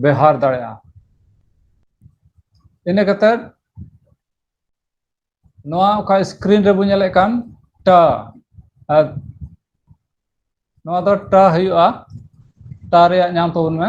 ᱵᱮᱣᱦᱟᱨ ᱫᱟᱲᱮᱭᱟᱜᱼᱟ ᱤᱱᱟᱹ ᱠᱟᱛᱮ ᱱᱚᱣᱟ ᱚᱠᱟ ᱥᱠᱨᱤᱱ ᱨᱮᱵᱚᱱ ᱧᱮᱞᱮᱫ ᱠᱟᱱ ᱴᱟ ᱟᱨ ᱱᱚᱣᱟ ᱫᱚ ᱴᱟ ᱦᱩᱭᱩᱜᱼᱟ ᱴᱟ ᱨᱮᱭᱟᱜ ᱧᱟᱢ ᱛᱟᱵᱚᱱ ᱢᱮ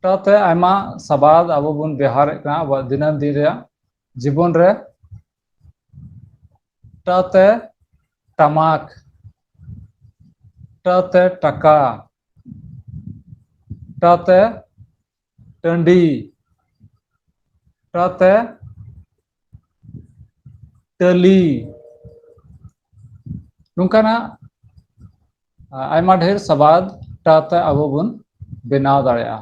ᱥᱟᱶᱛᱮ ᱟᱭᱢᱟ ᱥᱟᱵᱟᱫ ᱟᱵᱚ ᱵᱚᱱ ᱵᱮᱣᱦᱟᱨᱮᱫ ᱠᱟᱱᱟ ᱟᱵᱚᱣᱟᱜ ᱫᱤᱱᱟᱹᱢ ᱫᱤᱱ ᱨᱮᱭᱟᱜ ᱡᱤᱵᱚᱱ ᱨᱮ ᱴᱟᱛᱮ ᱴᱟᱢᱟᱠ ᱴᱟᱛᱮ ᱴᱟᱠᱟ ᱴᱟᱛᱮ ᱴᱟᱺᱰᱤ ᱴᱟᱛᱮ ᱴᱟᱹᱞᱤ ᱱᱚᱝᱠᱟᱱᱟᱜ ᱟᱭᱢᱟ ᱰᱷᱮᱨ ᱥᱟᱵᱟᱫ ᱛᱟᱞᱟᱛᱮ ᱟᱵᱚ ᱵᱚᱱ ᱵᱮᱱᱟᱣ ᱫᱟᱲᱮᱭᱟᱜᱼᱟ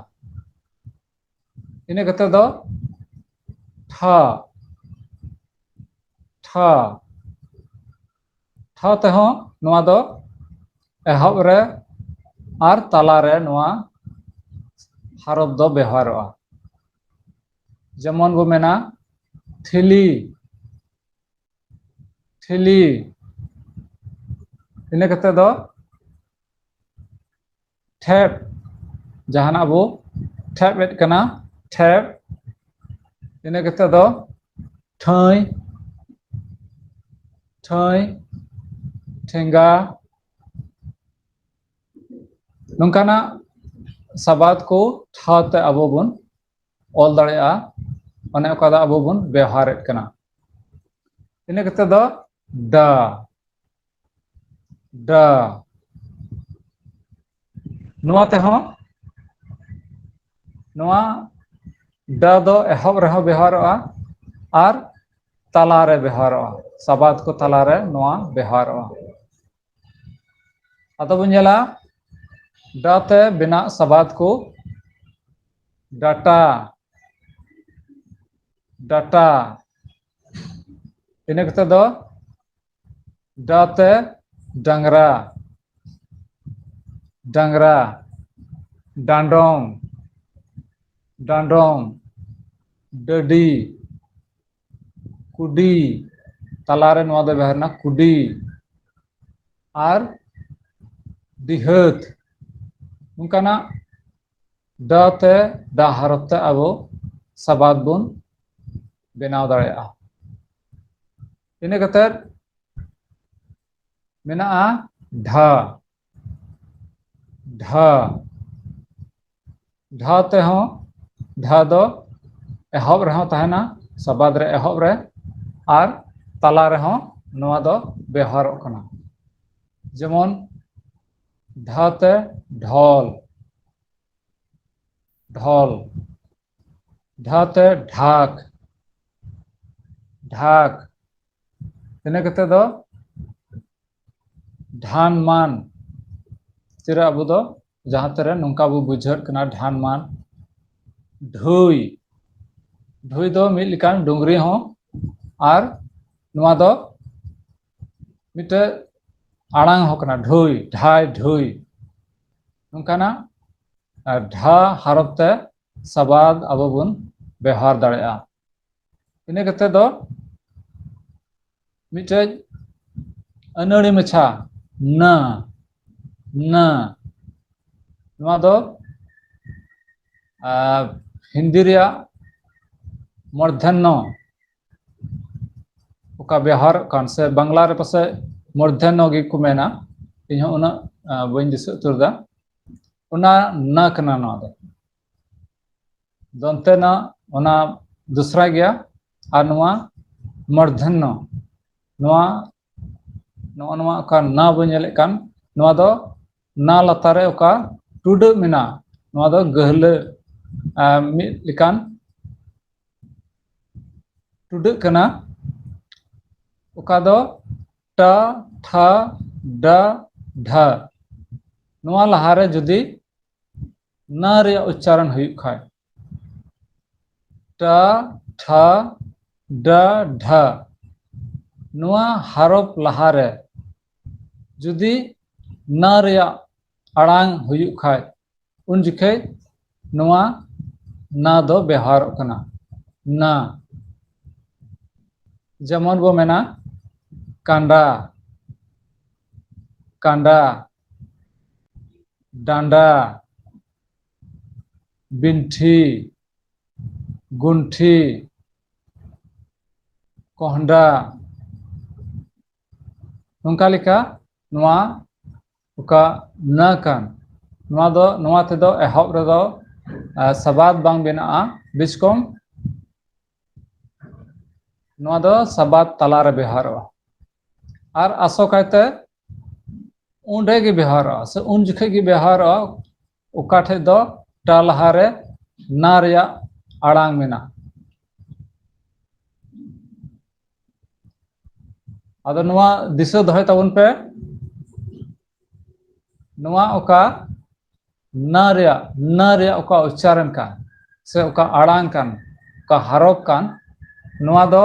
ᱤᱱᱟᱹ ᱠᱟᱛᱮ ᱫᱚ ᱴᱷᱟ ᱴᱷᱟ ᱴᱷᱟ ᱛᱮᱦᱚᱸ ᱱᱚᱣᱟ ᱫᱚ ᱮᱦᱚᱵ ᱨᱮ ᱟᱨ ᱛᱟᱞᱟᱨᱮ ᱱᱚᱣᱟ ᱦᱟᱨᱚᱯ ᱫᱚ ᱵᱮᱣᱦᱟᱨᱚᱜᱼᱟ ᱡᱮᱢᱚᱱ ᱵᱚ ᱢᱮᱱᱟ ᱛᱷᱤᱞᱤ ᱛᱷᱤᱞᱤ ᱤᱱᱟᱹ ᱠᱟᱛᱮ ᱫᱚ ᱴᱷᱮᱯ ᱡᱟᱦᱟᱱᱟᱜ ᱵᱚ ᱴᱷᱮᱯ ᱮᱫ ᱠᱟᱱᱟ ᱴᱷᱮᱯ ᱤᱱᱟᱹ ᱠᱟᱛᱮ ᱫᱚ ᱴᱷᱟᱹᱭ ᱴᱷᱟᱹᱭ ᱴᱷᱮᱸᱜᱟ ᱱᱚᱝᱠᱟᱱᱟᱜ ᱥᱟᱵᱟᱫ ᱠᱚ ᱴᱷᱟᱶᱛᱮ ᱟᱵᱚ ᱵᱚᱱ ᱚᱞ ᱫᱟᱲᱮᱭᱟᱜᱼᱟ ᱚᱱᱮ ᱚᱠᱟ ᱫᱚ ᱟᱵᱚ ᱵᱚᱱ ᱵᱮᱣᱦᱟᱨᱮᱫ ᱠᱟᱱᱟ ᱤᱱᱟᱹ ᱠᱟᱛᱮ ᱫᱚ ᱰᱟ ᱰᱟ ᱱᱚᱣᱟ ᱛᱮᱦᱚᱸ ᱱᱚᱣᱟ ᱰᱟ ᱫᱚ ᱮᱦᱚᱵ ᱨᱮᱦᱚᱸ ᱵᱮᱣᱦᱟᱨᱚᱜᱼᱟ ᱟᱨ ᱛᱟᱞᱟᱨᱮ ᱵᱮᱣᱦᱟᱨᱚᱜᱼᱟ ᱥᱟᱵᱟᱫ ᱠᱚ ᱛᱟᱞᱟᱨᱮ ᱱᱚᱣᱟ ᱵᱮᱣᱦᱟᱨᱚᱜᱼᱟ ᱟᱫᱚ ᱵᱚᱱ ᱧᱮᱞᱟ ᱰᱟ ᱛᱮ ᱵᱮᱱᱟᱜ ᱥᱟᱵᱟᱫ ᱠᱚ ᱰᱟᱴᱟ ᱰᱟᱴᱟ ᱤᱱᱟᱹ ᱠᱟᱛᱮ ᱫᱚ ᱰᱟ ᱛᱮ ᱰᱟᱝᱨᱟ ᱰᱟᱝᱨᱟ ᱰᱟᱸᱰᱚᱢ ᱰᱟᱸᱰᱚᱢ ᱰᱟᱹᱰᱤ ᱠᱩᱰᱤ ᱛᱟᱞᱟᱨᱮ ᱱᱚᱣᱟ ᱫᱚ ᱵᱮᱣᱦᱟᱨ ᱮᱱᱟ ᱠᱩᱰᱤ ᱟᱨ ᱰᱤᱦᱟᱹᱛ ᱚᱱᱠᱟᱱᱟᱜ ᱰ ᱛᱮ ᱰᱟ ᱦᱚᱨᱚᱯ ᱛᱮ ᱟᱵᱚ ᱥᱟᱵᱟᱫ ᱵᱚᱱ ᱵᱮᱱᱟᱣ ᱫᱟᱲᱮᱭᱟᱜᱼᱟ ᱤᱱᱟᱹ ᱠᱟᱛᱮᱫ ᱢᱮᱱᱟᱜᱼᱟ ᱰᱷᱟ ᱰᱷᱟ ᱰᱷᱟ ᱛᱮᱦᱚᱸ ᱰᱷᱟ ᱫᱚ ᱮᱦᱚᱵ ᱨᱮᱦᱚᱸ ᱛᱟᱦᱮᱱᱟ ᱥᱟᱵᱟᱫ ᱨᱮ ᱮᱦᱚᱵ ᱨᱮ ᱟᱨ ᱛᱟᱞᱟ ᱨᱮᱦᱚᱸ ᱱᱚᱣᱟ ᱫᱚ ᱵᱮᱣᱦᱟᱨᱚᱜ ᱠᱟᱱᱟ ᱡᱮᱢᱚᱱ ᱰᱷᱟ ᱛᱮ ᱰᱷᱚᱞ ᱰᱷᱚᱞ ᱰᱷᱟ ᱛᱮ ᱰᱷᱟᱠ ᱰᱷᱟᱠ ᱤᱱᱟᱹ ᱠᱟᱛᱮ ᱫᱚ ᱰᱷᱟᱱ ᱢᱟᱱ ᱪᱮᱫᱟᱜ ᱟᱵᱚ ᱫᱚ ᱡᱟᱦᱟᱸ ᱛᱮᱨᱮ ᱱᱚᱝᱠᱟ ᱵᱚ ᱵᱩᱡᱷᱟᱹᱜ ᱠᱟᱱᱟ ᱰᱷᱟᱱ ᱢᱟᱱ ᱰᱷᱩᱭ ᱰᱷᱩᱭ ᱫᱚ ᱢᱤᱫ ᱞᱮᱠᱟᱱ ᱰᱩᱝᱨᱤ ᱦᱚᱸ ᱟᱨ ᱱᱚᱣᱟ ᱫᱚ ᱢᱤᱫᱴᱮᱡ ᱟᱲᱟᱝ ᱦᱚᱸ ᱠᱟᱱᱟ ᱰᱷᱩᱭ ᱰᱷᱟᱭ ᱰᱷᱩᱭ ᱱᱚᱝᱠᱟᱱᱟᱜ ᱰᱷᱟ ᱦᱟᱨᱚᱯ ᱛᱮ ᱥᱟᱵᱟᱫ ᱟᱵᱚ ᱵᱚᱱ ᱵᱮᱣᱦᱟᱨ ᱫᱟᱲᱮᱭᱟᱜᱼᱟ ᱤᱱᱟᱹ ᱠᱟᱛᱮ ᱫᱚ ᱢᱤᱫᱴᱮᱡ ᱟᱹᱱᱟᱹᱲᱤ ᱢᱟᱪᱷᱟ ᱱᱟ ᱱᱟ ᱱᱚᱣᱟ ᱫᱚ ᱦᱤᱱᱫᱤ ᱨᱮᱭᱟᱜ ᱢᱚᱨᱫᱷᱮᱱᱱᱚ ᱚᱠᱟ ᱵᱮᱣᱦᱟᱨ ᱠᱟᱱ ᱥᱮ ᱵᱟᱝᱞᱟ ᱨᱮ ᱯᱟᱥᱮᱡ ᱢᱚᱨᱫᱷᱮᱱᱱᱚ ᱜᱮᱠᱚ ᱢᱮᱱᱟ ᱤᱧᱦᱚᱸ ᱩᱱᱟᱹᱜ ᱵᱟᱹᱧ ᱫᱤᱥᱟᱹ ᱩᱛᱟᱹᱨ ᱮᱫᱟ ᱚᱱᱟ ᱱᱟ ᱠᱟᱱᱟ ᱱᱚᱣᱟ ᱫᱚ ᱫᱚᱱᱛᱮᱱᱟ ᱚᱱᱟ ᱫᱚᱥᱨᱟ ᱜᱮᱭᱟ ᱟᱨ ᱱᱚᱣᱟ ᱢᱚᱨᱫᱷᱚᱱᱱᱚ ᱱᱚᱣᱟ ᱱᱚᱜᱼᱚ ᱱᱚᱣᱟ ᱚᱠᱟ ᱱᱟ ᱵᱚᱱ ᱧᱮᱞᱮᱫ ᱠᱟᱱ ᱱᱚᱣᱟ ᱫᱚ ᱱᱟ ᱞᱟᱛᱟᱨ ᱨᱮ ᱚᱠᱟ ᱴᱩᱰᱟᱹᱜ ᱢᱮᱱᱟᱜᱼᱟ ᱱᱚᱣᱟ ᱫᱚ ᱜᱟᱹᱦᱞᱟᱹ ᱢᱤᱫ ᱞᱮᱠᱟᱱ ᱴᱩᱰᱟᱹᱜ ᱠᱟᱱᱟ ᱚᱠᱟ ᱫᱚ ᱴᱟ ᱛᱷᱟ ᱰᱟ ᱰᱷᱟ ᱱᱚᱣᱟ ᱞᱟᱦᱟᱨᱮ ᱡᱩᱫᱤ ᱱᱟ ᱨᱮᱭᱟᱜ ᱩᱪᱪᱟᱨᱚᱱ ᱦᱩᱭᱩᱜ ᱠᱷᱟᱱ ᱴᱟ ᱴᱷᱟ ᱰᱟ ᱰᱷᱟ ᱱᱚᱣᱟ ᱦᱟᱨᱚᱯ ᱞᱟᱦᱟᱨᱮ ᱡᱩᱫᱤ ᱱᱟ ᱨᱮᱭᱟᱜ ᱟᱲᱟᱝ ᱦᱩᱭᱩᱜ ᱠᱷᱟᱱ ᱩᱱ ᱡᱚᱠᱷᱮᱡ ᱱᱚᱣᱟ ᱱᱟ ᱫᱚ ᱵᱮᱣᱦᱟᱨᱚᱜ ᱠᱟᱱᱟ ᱱᱟ ᱡᱮᱢᱚᱱ ᱵᱚ ᱢᱮᱱᱟ ᱠᱟᱸᱰᱟ ᱠᱟᱸᱰᱟ ᱰᱟᱸᱰᱟ ᱵᱤᱱᱴᱷᱤ ᱜᱩᱱᱴᱷᱤ ᱠᱚᱸᱦᱰᱟ ᱱᱚᱝᱠᱟ ᱞᱮᱠᱟ ᱱᱚᱣᱟ ᱚᱠᱟ ᱱᱟᱹ ᱠᱟᱱ ᱱᱚᱣᱟ ᱫᱚ ᱱᱚᱣᱟ ᱛᱮᱫᱚ ᱮᱦᱚᱵ ᱨᱮᱫᱚ ᱥᱟᱵᱟᱫ ᱵᱟᱝ ᱵᱮᱱᱟᱜᱼᱟ ᱵᱤᱥᱠᱚᱢ ᱱᱚᱣᱟ ᱫᱚ ᱥᱟᱵᱟᱫ ᱛᱟᱞᱟᱨᱮ ᱵᱮᱣᱦᱟᱨᱚᱜᱼᱟ ᱟᱨ ᱟᱥᱚᱠᱟᱭᱛᱮ ᱚᱸᱰᱮ ᱜᱮ ᱵᱮᱣᱦᱟᱨᱚᱜᱼᱟ ᱥᱮ ᱩᱱ ᱡᱚᱠᱷᱮᱡ ᱜᱮ ᱵᱮᱣᱦᱟᱨᱚᱜᱼᱟ ᱚᱠᱟ ᱴᱷᱮᱡ ᱫᱚ ᱴᱟ ᱞᱟᱦᱟᱨᱮ ᱱᱟ ᱨᱮᱭᱟᱜ ᱟᱲᱟᱝ ᱢᱮᱱᱟᱜᱼᱟ ᱟᱫᱚ ᱱᱚᱣᱟ ᱫᱤᱥᱟᱹ ᱫᱚᱦᱚᱭ ᱛᱟᱵᱚᱱ ᱯᱮ ᱱᱚᱣᱟ ᱚᱠᱟ ᱱᱟ ᱨᱮᱭᱟᱜ ᱱᱟ ᱨᱮᱭᱟᱜ ᱚᱠᱟ ᱩᱪᱪᱟᱨᱚᱱ ᱠᱟᱱ ᱥᱮ ᱚᱠᱟ ᱟᱲᱟᱝ ᱠᱟᱱ ᱚᱠᱟ ᱦᱟᱨᱚᱯ ᱠᱟᱱ ᱱᱚᱣᱟ ᱫᱚ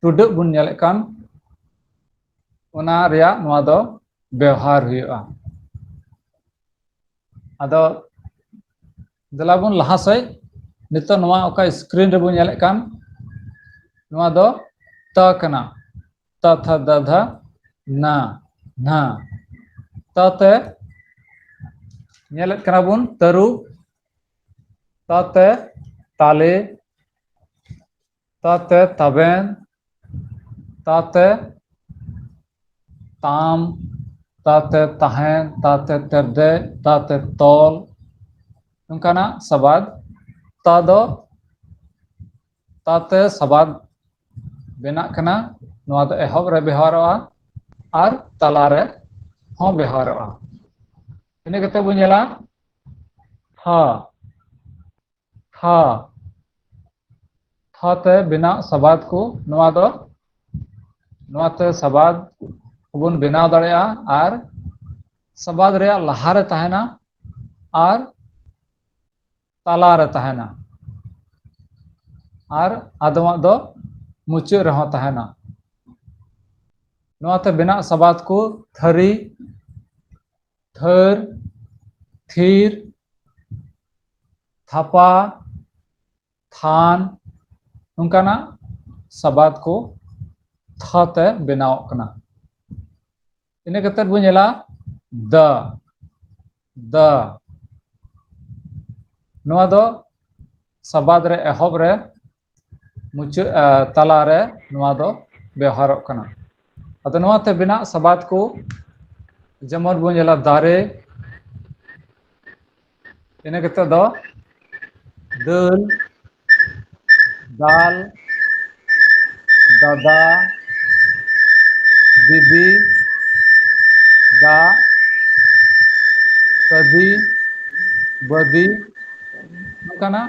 ᱴᱩᱰᱟᱹᱜ ᱵᱚᱱ ᱧᱮᱞᱮᱫ ᱠᱟᱱ ᱚᱱᱟ ᱨᱮᱭᱟᱜ ᱱᱚᱣᱟ ᱫᱚ ᱵᱮᱣᱦᱟᱨ ᱦᱩᱭᱩᱜᱼᱟ ᱟᱫᱚ ᱫᱮᱞᱟ ᱵᱚᱱ ᱞᱟᱦᱟ ᱥᱮᱡ ᱱᱤᱛᱚᱜ ᱱᱚᱣᱟ ᱚᱠᱟ ᱥᱠᱨᱤᱱ ᱨᱮᱵᱚᱱ ᱧᱮᱞᱮᱫ ᱠᱟᱱ ᱱᱚᱣᱟ ᱫᱚ ᱛᱟ ᱠᱟᱱᱟ ᱛᱟ ᱛᱷᱟ ᱫᱟ ᱫᱷᱟ ᱱᱟ ᱱᱟ ᱛᱟ ᱛᱮ ᱧᱮᱞᱮᱫ ᱠᱟᱱᱟ ᱵᱚᱱ ᱛᱟᱹᱨᱩᱵ ᱛᱟ ᱛᱮ ᱛᱟᱞᱮ ᱛᱟᱛᱮ ᱛᱟᱵᱮᱱ ᱛᱟᱛᱮ ᱛᱟᱢ ᱛᱟᱛᱮ ᱛᱟᱦᱮᱱ ᱛᱟᱛᱮ ᱛᱮᱨᱫᱮᱡ ᱛᱟᱛᱮ ᱛᱚᱞ ᱱᱚᱝᱠᱟᱱᱟᱜ ᱥᱟᱵᱟᱫ ᱛᱟ ᱫᱚ ᱛᱟᱛᱮ ᱥᱟᱵᱟᱫ ᱵᱮᱱᱟᱜ ᱠᱟᱱᱟ ᱱᱚᱣᱟ ᱫᱚ ᱮᱦᱚᱵ ᱨᱮ ᱵᱮᱣᱦᱟᱨᱚᱜᱼᱟ ᱟᱨ ᱛᱟᱞᱟ ᱨᱮ ᱦᱚᱸ ᱵᱮᱣᱦᱟᱨᱚᱜᱼᱟ ᱤᱱᱟᱹ ᱠᱟᱛᱮ ᱵᱚᱱ ᱧᱮᱞᱟ ᱦᱟ ᱛᱷᱟ ᱛᱷᱟ ᱛᱮ ᱵᱮᱱᱟᱜ ᱥᱟᱵᱟᱫ ᱠᱚ ᱱᱚᱣᱟ ᱫᱚ ᱱᱚᱣᱟ ᱛᱮ ᱥᱟᱵᱟᱫ ᱠᱚᱵᱚᱱ ᱵᱮᱱᱟᱣ ᱫᱟᱲᱮᱭᱟᱜᱼᱟ ᱟᱨ ᱥᱟᱵᱟᱫ ᱨᱮᱭᱟᱜ ᱞᱟᱦᱟ ᱨᱮ ᱛᱟᱦᱮᱱᱟ ᱟᱨ ᱛᱟᱞᱟ ᱨᱮ ᱛᱟᱦᱮᱱᱟ ᱟᱨ ᱟᱫᱚᱢᱟᱜ ᱫᱚ ᱢᱩᱪᱟᱹᱫ ᱨᱮᱦᱚᱸ ᱛᱟᱦᱮᱱᱟ ᱱᱚᱣᱟ ᱛᱮ ᱵᱮᱱᱟᱜ ᱥᱟᱵᱟᱫ ᱠᱚ ᱛᱷᱟᱹᱨᱤ ᱛᱷᱟᱹᱨ ᱛᱷᱤᱨ ᱛᱷᱟᱯᱟ ᱛᱷᱟᱱ ᱱᱚᱝᱠᱟᱱᱟᱜ ᱥᱟᱵᱟᱫ ᱠᱚ ᱛᱷᱟ ᱛᱮ ᱵᱮᱱᱟᱣᱚᱜ ᱠᱟᱱᱟ ᱤᱱᱟᱹ ᱠᱟᱛᱮ ᱵᱚᱱ ᱧᱮᱞᱟ ᱫ ᱫ ᱱᱚᱣᱟ ᱫᱚ ᱥᱟᱵᱟᱫ ᱨᱮ ᱮᱦᱚᱵ ᱨᱮ ᱢᱩᱪᱟᱹᱫ ᱛᱟᱞᱟᱨᱮ ᱱᱚᱣᱟ ᱫᱚ ᱵᱮᱣᱦᱟᱨᱚᱜ ᱠᱟᱱᱟ ᱟᱫᱚ ᱱᱚᱣᱟᱛᱮ ᱵᱮᱱᱟᱜ ᱥᱟᱵᱟᱫ ᱠᱚ ᱡᱮᱢᱚᱱ ᱵᱚᱱ ᱧᱮᱞᱟ ᱫᱟᱨᱮ ᱤᱱᱟᱹ ᱠᱟᱛᱮᱫ ᱫᱚ ᱫᱟᱹᱞ ᱫᱟᱞ ᱫᱟᱫᱟ ᱫᱤᱫᱤ ᱫᱟᱜ ᱠᱟᱹᱫᱤ ᱵᱟᱹᱫᱤ ᱱᱚᱝᱠᱟᱱᱟᱜ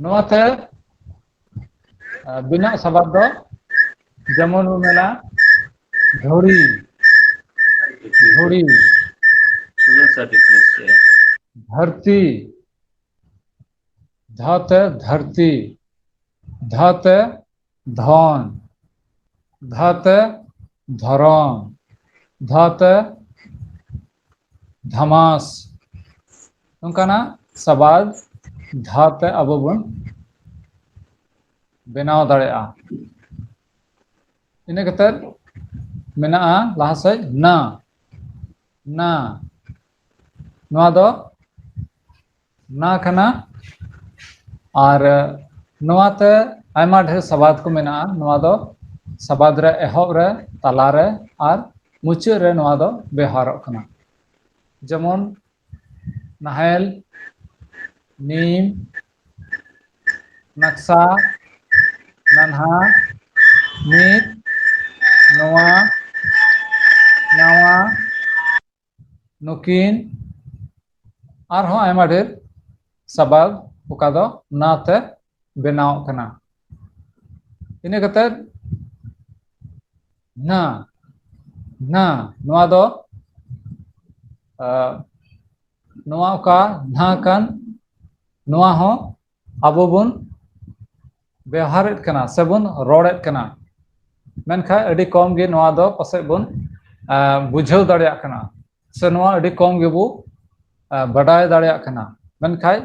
ᱱᱚᱣᱟ ᱛᱮ ᱟᱵᱤᱱᱟᱜ ᱥᱟᱵᱟᱫ ᱫᱚ ᱡᱮᱢᱚᱱ ᱵᱚᱱ ᱢᱮᱱᱟ ᱫᱷᱚᱲᱤ ᱫᱷᱚᱲᱤ ᱫᱷᱟᱹᱨᱛᱤ ᱫᱷᱟ ᱛᱮ ᱫᱷᱟᱹᱨᱛᱤ ᱫᱷᱟ ᱛᱮ ᱫᱷᱚᱱ ᱫᱷᱟ ᱛᱮ ᱫᱷᱚᱨᱚᱢ ᱫᱷᱟ ᱛᱮ ᱫᱷᱟᱢᱟᱥ ᱱᱚᱝᱠᱟᱱᱟᱜ ᱥᱟᱵᱟᱫ ᱫᱷᱟ ᱛᱮ ᱟᱵᱚ ᱵᱚᱱ ᱵᱮᱱᱟᱣ ᱫᱟᱲᱮᱭᱟᱜᱼᱟ ᱤᱱᱟᱹ ᱠᱟᱛᱮᱫ ᱢᱮᱱᱟᱜᱼᱟ ᱞᱟᱦᱟ ᱥᱮᱫ ᱱᱟ ᱱᱟ ᱱᱚᱣᱟ ᱫᱚ ᱚᱱᱟ ᱠᱟᱱᱟ ᱟᱨ ᱱᱚᱣᱟᱛᱮ ᱟᱭᱢᱟ ᱰᱷᱮᱨ ᱥᱟᱵᱟᱫ ᱠᱚ ᱢᱮᱱᱟᱜᱼᱟ ᱱᱚᱣᱟ ᱫᱚ ᱥᱟᱵᱟᱫ ᱨᱮ ᱮᱦᱚᱵ ᱨᱮ ᱛᱟᱞᱟᱨᱮ ᱟᱨ ᱢᱩᱪᱟᱹᱫ ᱨᱮ ᱱᱚᱣᱟ ᱫᱚ ᱵᱮᱣᱦᱟᱨᱚᱜ ᱠᱟᱱᱟ ᱡᱮᱢᱚᱱ ᱱᱟᱦᱮᱞ ᱱᱤᱢ ᱱᱟᱠᱥᱟ ᱱᱟᱱᱦᱟ ᱢᱤᱫ ᱱᱚᱣᱟ ᱱᱟᱣᱟ ᱱᱩᱠᱤᱱ ᱟᱨᱦᱚᱸ ᱟᱭᱢᱟ ᱰᱷᱮᱨ ᱥᱟᱵᱟᱫ ᱚᱠᱟ ᱫᱚ ᱱᱟ ᱛᱮ ᱵᱮᱱᱟᱣ ᱠᱟᱱᱟ ᱤᱱᱟᱹ ᱠᱟᱛᱮ ᱱᱟ ᱱᱟ ᱱᱚᱣᱟ ᱫᱚ ᱱᱚᱣᱟ ᱚᱠᱟ ᱱᱟ ᱠᱟᱱ ᱱᱚᱣᱟ ᱦᱚᱸ ᱟᱵᱚ ᱵᱚᱱ ᱵᱮᱣᱦᱟᱨᱮᱫ ᱠᱟᱱᱟ ᱥᱮᱵᱚᱱ ᱨᱚᱲᱮᱫ ᱠᱟᱱᱟ ᱢᱮᱱᱠᱷᱟᱱ ᱟᱹᱰᱤ ᱠᱚᱢ ᱜᱮ ᱱᱚᱣᱟ ᱫᱚ ᱯᱟᱥᱮᱡ ᱵᱚᱱ ᱵᱩᱡᱷᱟᱹᱣ ᱫᱟᱲᱮᱭᱟᱜ ᱠᱟᱱᱟ ᱥᱮ ᱱᱚᱣᱟ ᱟᱹᱰᱤ ᱠᱚᱢ ᱜᱮᱵᱚ ᱵᱟᱰᱟᱭ ᱫᱟᱲᱮᱭᱟᱜ ᱠᱟᱱᱟ ᱢᱮᱱᱠᱷᱟᱡ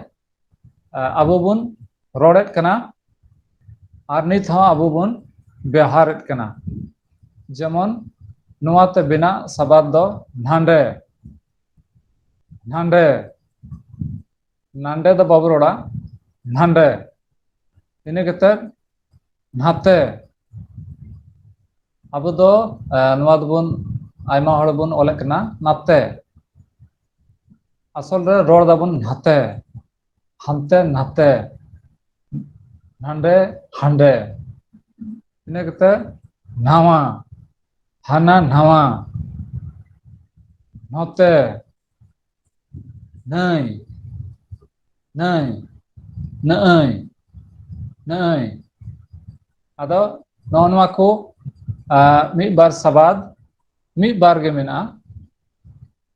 ᱟᱵᱚ ᱵᱚᱱ ᱨᱚᱲᱮᱫ ᱠᱟᱱᱟ ᱟᱨ ᱱᱤᱛ ᱦᱚᱸ ᱟᱵᱚ ᱵᱚᱱ ᱵᱮᱣᱦᱟᱨᱮᱫ ᱠᱟᱱᱟ ᱡᱮᱢᱚᱱ ᱱᱚᱣᱟᱛᱮ ᱵᱮᱱᱟᱜ ᱥᱟᱵᱟᱫ ᱫᱚ ᱱᱷᱟᱸᱰᱮ ᱱᱷᱟᱸᱰᱮ ᱱᱟᱸᱰᱮ ᱫᱚ ᱵᱟᱵᱚ ᱨᱚᱲᱟ ᱱᱷᱟᱸᱰᱮ ᱤᱱᱟᱹ ᱠᱟᱛᱮᱫ ᱱᱷᱟᱛᱮ ᱟᱵᱚ ᱫᱚ ᱮᱸ ᱱᱚᱣᱟ ᱫᱚᱵᱚᱱ ᱟᱭᱢᱟ ᱦᱚᱲ ᱵᱚᱱ ᱚᱞᱮᱫ ᱠᱟᱱᱟ ᱱᱟᱛᱮ ᱟᱥᱚᱞ ᱨᱮ ᱨᱚᱲ ᱫᱟᱵᱚᱱ ᱱᱷᱟᱛᱮ ᱦᱟᱱᱛᱮ ᱱᱷᱟᱛᱮ ᱱᱟᱸᱰᱮ ᱦᱟᱸᱰᱮ ᱤᱱᱟᱹ ᱠᱟᱛᱮᱫ ᱱᱷᱟᱶᱟ ᱦᱟᱱᱟ ᱱᱷᱟᱶᱟ ᱱᱷᱚᱛᱮ ᱱᱟᱹᱭ ᱱᱟᱹᱭ ᱱᱟᱹᱭ ᱱᱟᱹᱭ ᱟᱫᱚ ᱱᱚᱜᱼᱚ ᱱᱚᱣᱟ ᱠᱚ ᱢᱤᱫ ᱵᱟᱨ ᱥᱟᱵᱟᱫ ᱢᱤᱫ ᱵᱟᱨ ᱜᱮ ᱢᱮᱱᱟᱜᱼᱟ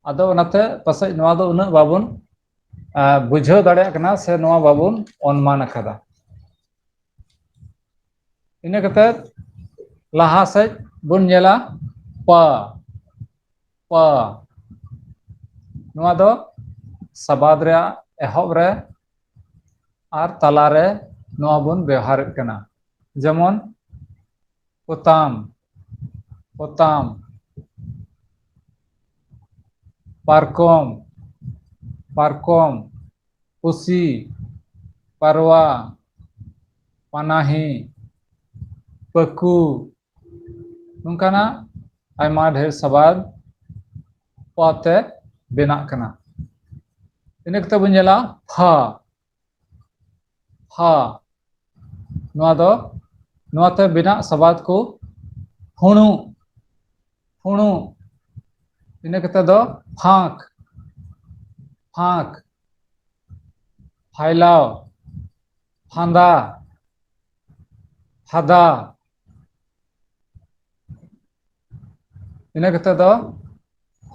ᱟᱫᱚ ᱚᱱᱟᱛᱮ ᱯᱟᱥᱮᱡ ᱱᱚᱣᱟ ᱫᱚ ᱩᱱᱟᱹᱜ ᱵᱟᱵᱚᱱ ᱵᱩᱡᱷᱟᱹᱣ ᱫᱟᱲᱮᱭᱟᱜ ᱠᱟᱱᱟ ᱥᱮ ᱱᱚᱣᱟ ᱵᱟᱵᱚᱱ ᱚᱱᱢᱟᱱ ᱟᱠᱟᱫᱟ ᱤᱱᱟᱹ ᱠᱟᱛᱮᱫ ᱞᱟᱦᱟ ᱥᱮᱫ ᱵᱚᱱ ᱧᱮᱞᱟ ᱯᱟ ᱯᱟ ᱱᱚᱣᱟ ᱫᱚ ᱥᱟᱵᱟᱫ ᱨᱮᱭᱟᱜ ᱮᱦᱚᱵ ᱨᱮ ᱟᱨ ᱛᱟᱞᱟᱨᱮ ᱱᱚᱣᱟ ᱵᱚᱱ ᱵᱮᱣᱦᱟᱨᱮᱫ ᱠᱟᱱᱟ ᱡᱮᱢᱚᱱ ᱯᱚᱛᱟᱢ ᱯᱚᱛᱟᱢ ᱯᱟᱨᱠᱚᱢ ᱯᱟᱨᱠᱚᱢ ᱯᱩᱥᱤ ᱯᱟᱨᱣᱟ ᱯᱟᱱᱟᱦᱤ ᱯᱟᱹᱠᱩ ᱱᱚᱝᱠᱟᱱᱟᱜ ᱟᱭᱢᱟ ᱰᱷᱮᱨ ᱥᱟᱵᱟᱫ ᱯᱟᱛᱮ ᱵᱮᱱᱟᱜ ᱠᱟᱱᱟ ᱤᱱᱟᱹ ᱠᱟᱛᱮ ᱵᱚᱱ ᱧᱮᱞᱟ ᱯᱷᱟ ᱯᱷᱟ ᱱᱚᱣᱟ ᱫᱚ ᱱᱚᱣᱟᱛᱮ ᱵᱮᱱᱟᱜ ᱥᱟᱵᱟᱫ ᱠᱚ ᱦᱩᱬᱩ ᱦᱩᱬᱩ ᱤᱱᱟᱹ ᱠᱟᱛᱮ ᱫᱚ ᱯᱷᱟᱸᱠ ᱯᱷᱟᱸᱠ ᱯᱷᱟᱭᱞᱟᱣ ᱯᱷᱟᱸᱫᱟ ᱯᱷᱟᱫᱟ ᱤᱱᱟᱹ ᱠᱟᱛᱮᱫ ᱫᱚ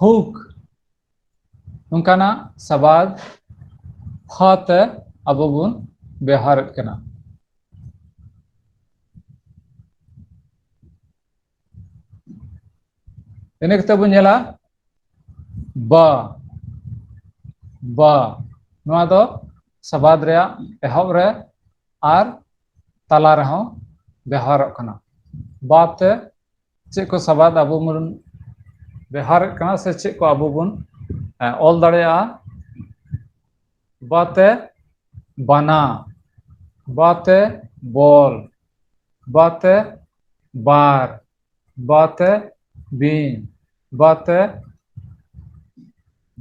ᱦᱩᱠ ᱱᱚᱝᱠᱟᱱᱟᱜ ᱥᱟᱵᱟᱫ ᱦᱚ ᱛᱮ ᱟᱵᱚ ᱵᱚᱱ ᱵᱮᱣᱦᱟᱨᱮᱫ ᱠᱟᱱᱟ ᱤᱱᱟᱹ ᱠᱟᱛᱮᱫ ᱵᱚᱱ ᱧᱮᱞᱟ ᱵᱟ ᱵᱟ ᱱᱚᱣᱟ ᱫᱚ ᱥᱟᱵᱟᱫ ᱨᱮᱭᱟᱜ ᱮᱦᱚᱵ ᱨᱮ ᱟᱨ ᱛᱟᱞᱟ ᱨᱮᱦᱚᱸ ᱵᱮᱣᱦᱟᱨᱚᱜ ᱠᱟᱱᱟ ᱵᱟ ᱛᱮ ᱪᱮᱫ ᱠᱚ ᱥᱟᱵᱟᱫ ᱟᱵᱚ ᱵᱚᱱ ᱵᱮᱣᱦᱟᱨᱮᱫ ᱠᱟᱱᱟ ᱥᱮ ᱪᱮᱫ ᱠᱚ ᱟᱵᱚ ᱵᱚᱱ ᱚᱞ ᱫᱟᱲᱮᱭᱟᱜᱼᱟ ᱵᱟ ᱛᱮ ᱵᱟᱱᱟ ᱵᱟ ᱛᱮ ᱵᱚᱞ ᱵᱟ ᱛᱮ ᱵᱟᱨ ᱵᱟᱛᱮ ᱵᱤᱱ ᱵᱟᱛᱮ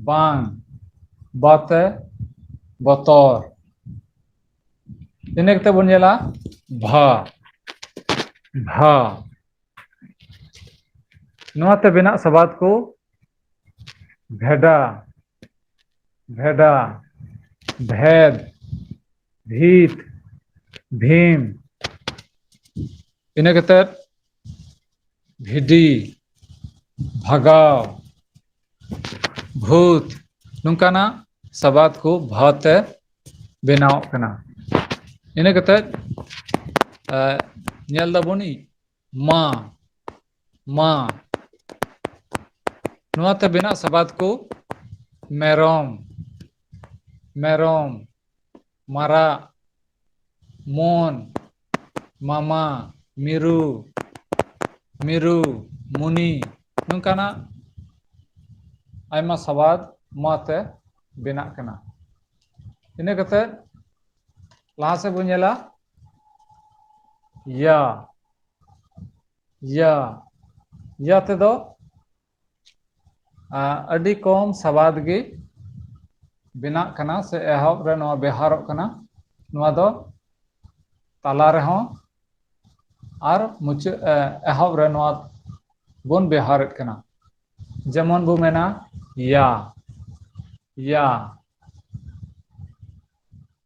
ᱵᱟᱝ ᱵᱟᱛᱮ ᱵᱚᱛᱚᱨ ᱤᱱᱟᱹ ᱠᱟᱛᱮ ᱵᱚᱱ ᱧᱮᱞᱟ ᱵᱷᱟ ᱵᱷᱟ ᱱᱚᱣᱟᱛᱮ ᱵᱮᱱᱟᱜ ᱥᱟᱵᱟᱫ ᱠᱚ ᱵᱷᱮᱰᱟ ᱵᱷᱮᱰᱟ ᱵᱷᱮᱫ ᱵᱷᱤᱛ ᱵᱷᱤᱢ ᱤᱱᱟᱹ ᱠᱟᱛᱮᱫ ᱵᱷᱤᱰᱤ ᱵᱷᱟᱜᱟᱣ ᱵᱷᱩᱛ ᱱᱚᱝᱠᱟᱱᱟᱜ ᱥᱟᱵᱟᱫ ᱠᱚ ᱵᱷᱟ ᱛᱮ ᱵᱮᱱᱟᱣᱚᱜ ᱠᱟᱱᱟ ᱤᱱᱟᱹ ᱠᱟᱛᱮᱫ ᱮ ᱧᱮᱞ ᱫᱟᱵᱚᱱ ᱢᱟ ᱢᱟ ᱱᱚᱣᱟ ᱛᱮ ᱵᱮᱱᱟᱜ ᱥᱟᱵᱟᱫ ᱠᱚ ᱢᱮᱨᱚᱢ ᱢᱮᱨᱚᱢ ᱢᱟᱨᱟᱜ ᱢᱚᱱ ᱢᱟᱢᱟ ᱢᱤᱨᱩ ᱢᱤᱨᱩ ᱢᱩᱱᱤ ᱱᱚᱝᱠᱟᱱᱟᱜ ᱟᱭᱢᱟ ᱥᱟᱵᱟᱫ ᱢᱟ ᱛᱮ ᱵᱮᱱᱟᱜ ᱠᱟᱱᱟ ᱤᱱᱟᱹ ᱠᱟᱛᱮᱫ ᱞᱟᱦᱟ ᱥᱮᱫ ᱵᱚᱱ ᱧᱮᱞᱟ ᱭᱟ ᱭᱟ ᱭᱟ ᱛᱮᱫᱚ ᱟ ᱟᱹᱰᱤ ᱠᱚᱢ ᱥᱟᱵᱟᱫ ᱜᱮ ᱵᱮᱱᱟᱜ ᱠᱟᱱᱟ ᱥᱮ ᱮᱦᱚᱵ ᱨᱮ ᱱᱚᱣᱟ ᱵᱮᱣᱦᱟᱨᱚᱜ ᱠᱟᱱᱟ ᱱᱚᱣᱟ ᱫᱚ ᱛᱟᱞᱟ ᱨᱮᱦᱚᱸ ᱟᱨ ᱢᱩᱪᱟᱹᱫ ᱮ ᱮᱦᱚᱵ ᱨᱮ ᱱᱚᱣᱟ ᱵᱚᱱ ᱵᱮᱣᱦᱟᱨᱮᱫ ᱠᱟᱱᱟ ᱡᱮᱢᱚᱱ ᱵᱚᱱ ᱢᱮᱱᱟ ᱭᱟ ᱭᱟ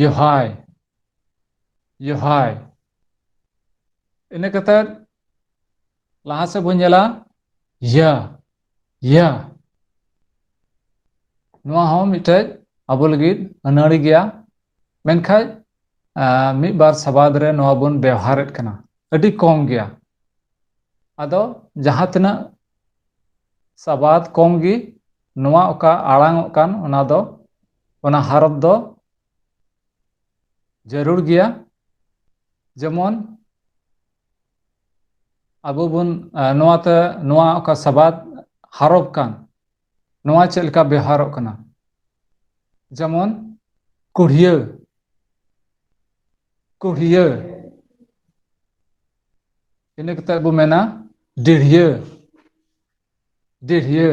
ᱡᱚᱦᱟᱭ ᱡᱚᱦᱟᱭ ᱤᱱᱟᱹ ᱠᱟᱛᱮᱫ ᱞᱟᱦᱟ ᱥᱮᱫ ᱵᱚᱱ ᱧᱮᱞᱟ ᱭᱟ ᱭᱟ ᱱᱚᱣᱟ ᱦᱚᱸ ᱢᱤᱫᱴᱮᱡ ᱟᱵᱚ ᱞᱟᱹᱜᱤᱫ ᱟᱹᱱᱟᱹᱲᱤ ᱜᱮᱭᱟ ᱢᱮᱱᱠᱷᱟᱡ ᱢᱤᱫ ᱵᱟᱨ ᱥᱟᱵᱟᱫ ᱨᱮ ᱱᱚᱣᱟ ᱵᱚᱱ ᱵᱮᱣᱦᱟᱨᱮᱫ ᱠᱟᱱᱟ ᱟᱹᱰᱤ ᱠᱚᱢ ᱜᱮᱭᱟ ᱟᱫᱚ ᱡᱟᱦᱟᱸ ᱛᱤᱱᱟᱹᱜ ᱥᱟᱵᱟᱫ ᱠᱚᱢ ᱜᱮ ᱱᱚᱣᱟ ᱚᱠᱟ ᱟᱲᱟᱝ ᱚᱜ ᱠᱟᱱ ᱚᱱᱟ ᱫᱚ ᱚᱱᱟ ᱦᱟᱨᱚᱛ ᱫᱚ ᱡᱟᱹᱨᱩᱲ ᱜᱮᱭᱟ ᱡᱮᱢᱚᱱ ᱟᱵᱚ ᱵᱚᱱ ᱱᱚᱣᱟᱛᱮ ᱱᱚᱣᱟ ᱚᱠᱟ ᱥᱟᱵᱟᱫ ᱦᱟᱨᱚᱵ ᱠᱟᱱ ᱱᱚᱣᱟ ᱪᱮᱫ ᱞᱮᱠᱟ ᱵᱮᱣᱦᱟᱨᱚᱜ ᱠᱟᱱᱟ ᱡᱮᱢᱚᱱ ᱠᱩᱲᱦᱤᱭᱟᱹ ᱠᱩᱲᱦᱤᱭᱟᱹ ᱤᱱᱟᱹ ᱠᱟᱛᱮᱫ ᱵᱚ ᱢᱮᱱᱟ ᱰᱤᱲᱦᱤᱭᱟᱹ ᱰᱤᱲᱦᱤᱭᱟᱹ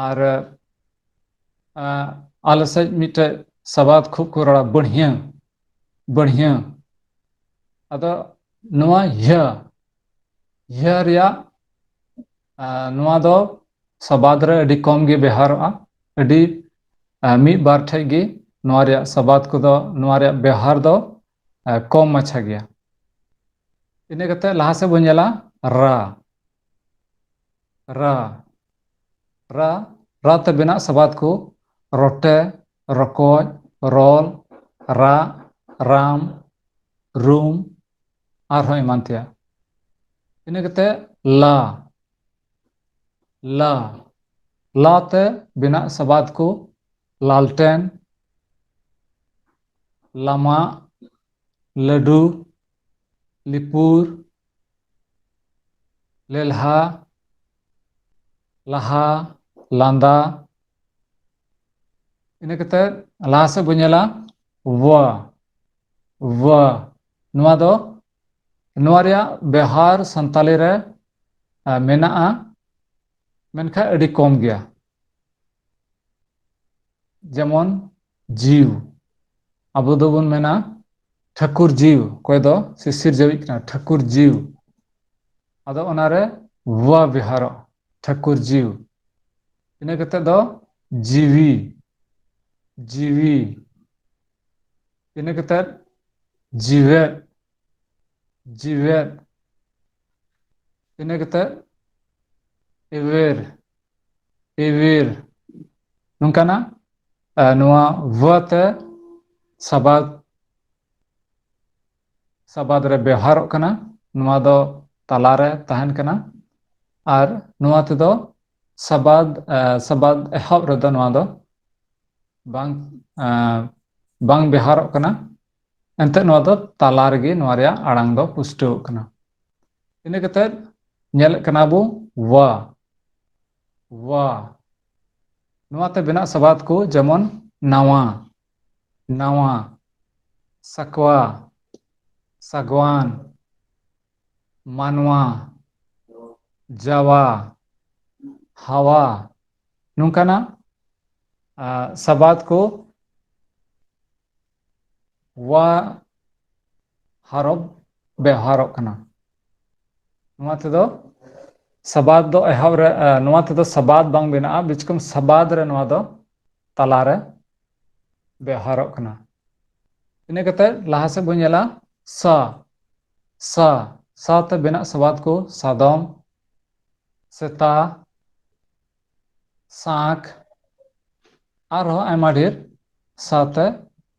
ᱟᱨ ᱟᱞᱮ ᱥᱮᱫ ᱢᱤᱫᱴᱮᱡ ᱥᱟᱵᱟᱫ ᱠᱷᱩᱵ ᱠᱚ ᱨᱚᱲᱟ ᱵᱟᱹᱲᱦᱭᱟᱹ ᱵᱟᱹᱲᱦᱭᱟᱹ ᱟᱫᱚ ᱱᱚᱣᱟ ᱤᱭᱟᱹ ᱤᱭᱟᱹ ᱨᱮᱭᱟᱜ ᱱᱚᱣᱟ ᱫᱚ ᱥᱟᱵᱟᱫ ᱨᱮ ᱟᱹᱰᱤ ᱠᱚᱢ ᱜᱮ ᱵᱮᱣᱦᱟᱨᱚᱜᱼᱟ ᱟᱹᱰᱤ ᱢᱤᱫ ᱵᱟᱨ ᱴᱷᱮᱡ ᱜᱮ ᱱᱚᱣᱟ ᱨᱮᱭᱟᱜ ᱥᱟᱵᱟᱫ ᱠᱚᱫᱚ ᱱᱚᱣᱟ ᱨᱮᱭᱟᱜ ᱵᱮᱣᱦᱟᱨ ᱫᱚ ᱠᱚᱢ ᱢᱟᱪᱷᱟ ᱜᱮᱭᱟ ᱤᱱᱟᱹ ᱠᱟᱛᱮ ᱞᱟᱦᱟ ᱥᱮᱫ ᱵᱚᱱ ᱧᱮᱞᱟ ᱨᱟ ᱨᱟ ᱨᱟ ᱨᱟ ᱛᱮ ᱵᱮᱱᱟᱜ ᱥᱟᱵᱟᱫ ᱠᱚ ᱨᱚᱴᱮ ᱨᱚᱠᱚᱡ ᱨᱚᱞ ᱨᱟᱜ ᱨᱟᱢ ᱨᱩᱢ ᱟᱨᱦᱚᱸ ᱮᱢᱟᱱ ᱛᱮᱭᱟᱜ ᱤᱱᱟᱹ ᱠᱟᱛᱮ ᱞᱟ ᱞᱟ ᱞᱟ ᱛᱮ ᱵᱮᱱᱟᱜ ᱥᱟᱵᱟᱫ ᱠᱚ ᱞᱟᱞᱴᱮᱱ ᱞᱟᱢᱟᱜ ᱞᱟᱹᱰᱩ ᱞᱤᱯᱩᱨ ᱞᱮᱞᱦᱟ ᱞᱟᱦᱟ ᱞᱟᱸᱫᱟ ᱤᱱᱟᱹ ᱠᱟᱛᱮᱫ ᱞᱟᱦᱟ ᱥᱮᱫ ᱵᱚᱱ ᱧᱮᱞᱟ ᱣᱟ ᱣᱟ ᱱᱚᱣᱟ ᱫᱚ ᱱᱚᱣᱟ ᱨᱮᱭᱟᱜ ᱵᱮᱣᱦᱟᱨ ᱥᱟᱱᱛᱟᱞᱤ ᱨᱮ ᱢᱮᱱᱟᱜᱼᱟ ᱢᱮᱱᱠᱷᱟᱱ ᱟᱹᱰᱤ ᱠᱚᱢ ᱜᱮᱭᱟ ᱡᱮᱢᱚᱱ ᱡᱤᱣ ᱟᱵᱚ ᱫᱚᱵᱚᱱ ᱢᱮᱱᱟ ᱴᱷᱟᱹᱠᱩᱨ ᱡᱤᱣ ᱚᱠᱚᱭ ᱫᱚ ᱥᱤᱥᱤᱨ ᱡᱟᱹᱣᱤᱡ ᱠᱟᱱᱟ ᱴᱷᱟᱹᱠᱩᱨ ᱡᱤᱣ ᱟᱫᱚ ᱚᱱᱟᱨᱮ ᱣᱟ ᱵᱮᱣᱦᱟᱨᱚᱜ ᱴᱷᱟᱹᱠᱩᱨ ᱡᱤᱣ ᱤᱱᱟᱹ ᱠᱟᱛᱮᱫ ᱫᱚ ᱡᱤᱣᱤ ᱡᱤᱣᱤ ᱤᱱᱟᱹ ᱠᱟᱛᱮᱫ ᱡᱤᱣᱮᱫ ᱡᱤᱣᱮᱫ ᱤᱱᱟᱹ ᱠᱟᱛᱮᱫ ᱮᱣᱮᱨ ᱮᱣᱮᱨ ᱱᱚᱝᱠᱟᱱᱟᱜ ᱱᱚᱣᱟ ᱵᱷ ᱛᱮ ᱥᱟᱵᱟᱫ ᱥᱟᱵᱟᱫ ᱨᱮ ᱵᱮᱣᱦᱟᱨᱚᱜ ᱠᱟᱱᱟ ᱱᱚᱣᱟ ᱫᱚ ᱛᱟᱞᱟᱨᱮ ᱛᱟᱦᱮᱱ ᱠᱟᱱᱟ ᱟᱨ ᱱᱚᱣᱟ ᱛᱮᱫᱚ ᱥᱟᱵᱟᱫ ᱥᱟᱵᱟᱫ ᱮᱦᱚᱵ ᱨᱮᱫᱚ ᱱᱚᱣᱟ ᱫᱚ ᱵᱟᱝ ᱵᱟᱝ ᱵᱮᱣᱦᱟᱨᱚᱜ ᱠᱟᱱᱟ ᱮᱱᱛᱮ ᱱᱚᱣᱟ ᱫᱚ ᱛᱟᱞᱟ ᱨᱮᱜᱮ ᱱᱚᱣᱟ ᱨᱮᱭᱟᱜ ᱟᱲᱟᱝ ᱫᱚ ᱯᱩᱥᱴᱟᱹᱣᱚᱜ ᱠᱟᱱᱟ ᱤᱱᱟᱹ ᱠᱟᱛᱮᱫ ᱧᱮᱞᱮᱫ ᱠᱟᱱᱟ ᱵᱚ ᱣᱟ ᱣᱟ ᱱᱚᱣᱟ ᱛᱮ ᱵᱮᱱᱟᱜ ᱥᱟᱵᱟᱫ ᱠᱚ ᱡᱮᱢᱚᱱ ᱱᱟᱣᱟ ᱱᱟᱣᱟ ᱥᱟᱠᱣᱟ ᱥᱟᱜᱣᱟᱱ ᱢᱟᱱᱣᱟ ᱡᱟᱣᱟ ᱦᱟᱣᱟ ᱱᱚᱝᱠᱟᱱᱟᱜ ᱥᱟᱵᱟᱫ ᱠᱚ ᱣᱟ ᱦᱚᱨᱚᱯ ᱵᱮᱣᱦᱟᱨᱚᱜ ᱠᱟᱱᱟ ᱱᱚᱣᱟ ᱛᱮᱫᱚ ᱥᱟᱵᱟᱫ ᱫᱚ ᱮᱦᱚᱵ ᱨᱮ ᱱᱚᱣᱟ ᱛᱮᱫᱚ ᱥᱟᱵᱟᱫ ᱵᱟᱝ ᱵᱮᱱᱟᱜᱼᱟ ᱵᱤᱪᱠᱚᱢ ᱥᱟᱵᱟᱫ ᱨᱮ ᱱᱚᱣᱟ ᱫᱚ ᱛᱟᱞᱟᱨᱮ ᱵᱮᱣᱦᱟᱨᱚᱜ ᱠᱟᱱᱟ ᱤᱱᱟᱹ ᱠᱟᱛᱮᱫ ᱞᱟᱦᱟ ᱥᱮᱫ ᱵᱚᱱ ᱧᱮᱞᱟ ᱥᱟ ᱥᱟ ᱥᱟ ᱛᱮ ᱵᱮᱱᱟᱜ ᱥᱚᱵᱟᱫ ᱠᱚ ᱥᱟᱫᱚᱢ ᱥᱮᱛᱟ ᱥᱟᱸᱠ ᱟᱨᱦᱚᱸ ᱟᱭᱢᱟ ᱰᱷᱮᱨ ᱥᱟᱶᱛᱮ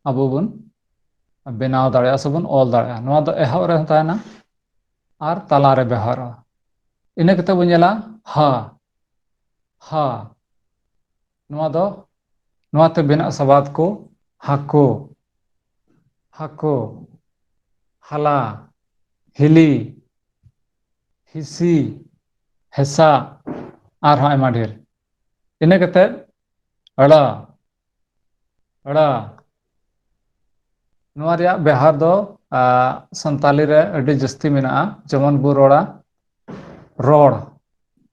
ᱟᱵᱚ ᱵᱚᱱ ᱵᱮᱱᱟᱣ ᱫᱟᱲᱮᱭᱟᱜᱼᱟ ᱥᱮᱵᱚᱱ ᱚᱞ ᱫᱟᱲᱮᱭᱟᱜᱼᱟ ᱱᱚᱣᱟ ᱫᱚ ᱮᱦᱚᱵ ᱨᱮᱦᱚᱸ ᱛᱟᱦᱮᱱᱟ ᱟᱨ ᱛᱟᱞᱟᱨᱮ ᱵᱮᱣᱦᱟᱨᱚᱜᱼᱟ ᱤᱱᱟᱹ ᱠᱟᱛᱮ ᱵᱚᱱ ᱧᱮᱞᱟ ᱦᱟ ᱦᱟ ᱱᱚᱣᱟ ᱫᱚ ᱱᱚᱣᱟ ᱛᱮ ᱵᱮᱱᱟᱜ ᱥᱟᱵᱟᱫ ᱠᱚ ᱦᱟᱹᱠᱩ ᱦᱟᱹᱠᱩ ᱦᱟᱞᱟ ᱦᱤᱞᱤ ᱦᱤᱥᱤ ᱦᱮᱸᱥᱟᱜ ᱟᱨᱦᱚᱸ ᱟᱭᱢᱟ ᱰᱷᱮᱨ ᱤᱱᱟᱹ ᱠᱟᱛᱮᱫ ᱟᱹᱲᱟᱹ ᱟᱹᱲᱟᱹ ᱱᱚᱣᱟ ᱨᱮᱭᱟᱜ ᱵᱮᱣᱦᱟᱨ ᱫᱚ ᱥᱟᱱᱛᱟᱞᱤ ᱨᱮ ᱟᱹᱰᱤ ᱡᱟᱹᱥᱛᱤ ᱢᱮᱱᱟᱜᱼᱟ ᱡᱮᱢᱚᱱ ᱵᱚ ᱨᱚᱲᱟ ᱨᱚᱲ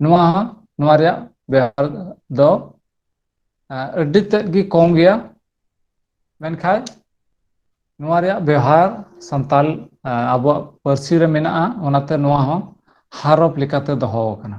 ᱱᱚᱣᱟ ᱱᱚᱣᱟ ᱨᱮᱭᱟᱜ ᱵᱮᱣᱦᱟᱨ ᱫᱚ ᱟᱹᱰᱤ ᱛᱮᱫ ᱜᱮ ᱠᱚᱢ ᱜᱮᱭᱟ ᱢᱮᱱᱠᱷᱟᱡ ᱱᱚᱣᱟ ᱨᱮᱭᱟᱜ ᱵᱮᱣᱦᱟᱨ ᱥᱟᱱᱛᱟᱞ ᱟᱵᱚᱣᱟᱜ ᱯᱟᱹᱨᱥᱤ ᱨᱮ ᱢᱮᱱᱟᱜᱼᱟ ᱚᱱᱟᱛᱮ ᱱᱚᱣᱟ ᱦᱚᱸ ᱦᱟᱨᱚᱯ ᱞᱮᱠᱟᱛᱮ ᱫᱚᱦᱚ ᱟᱠᱟᱱᱟ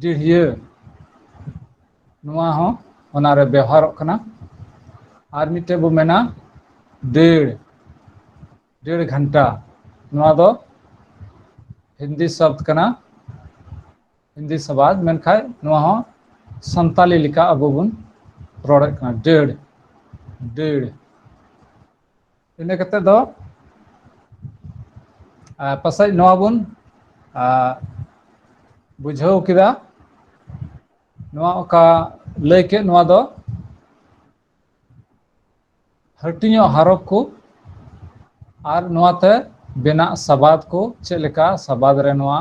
ᱰᱤᱲᱦᱤᱭᱟᱹ ᱱᱚᱣᱟ ᱦᱚᱸ ᱚᱱᱟᱨᱮ ᱵᱮᱣᱦᱟᱨᱚᱜ ᱠᱟᱱᱟ ᱟᱨ ᱢᱤᱫᱴᱮᱱ ᱵᱚᱱ ᱢᱮᱱᱟ ᱫᱟᱹᱲ ᱰᱮᱲ ᱜᱷᱟᱱᱴᱟ ᱱᱚᱣᱟ ᱫᱚ ᱦᱤᱱᱫᱤ ᱥᱟᱵᱫ ᱠᱟᱱᱟ ᱦᱤᱱᱫᱤ ᱥᱟᱵᱟᱫ ᱢᱮᱱᱠᱟᱱ ᱱᱚᱣᱟ ᱦᱚᱸ ᱥᱟᱱᱛᱟᱞᱤ ᱞᱮᱠᱟ ᱟᱵᱚ ᱵᱚᱱ ᱨᱚᱲᱮᱫ ᱠᱟᱱᱟ ᱫᱟᱹᱲ ᱫᱟᱹᱲ ᱤᱱᱟᱹ ᱠᱟᱛᱮᱫ ᱫᱚ ᱟᱨ ᱯᱟᱥᱮᱡ ᱱᱚᱣᱟ ᱵᱚᱱ ᱟᱨ ᱵᱩᱡᱷᱟᱹᱣ ᱠᱮᱫᱟ ᱱᱚᱣᱟ ᱚᱠᱟ ᱞᱟᱹᱭ ᱠᱮᱫ ᱱᱚᱣᱟ ᱫᱚ ᱦᱟᱹᱴᱤᱧᱚᱜ ᱦᱚᱨᱚᱯ ᱠᱚ ᱟᱨ ᱱᱚᱣᱟᱛᱮ ᱵᱮᱱᱟᱜ ᱥᱟᱵᱟᱫ ᱠᱚ ᱪᱮᱫ ᱞᱮᱠᱟ ᱥᱟᱵᱟᱫ ᱨᱮ ᱱᱚᱣᱟ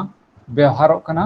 ᱵᱮᱣᱦᱟᱨᱚᱜ ᱠᱟᱱᱟ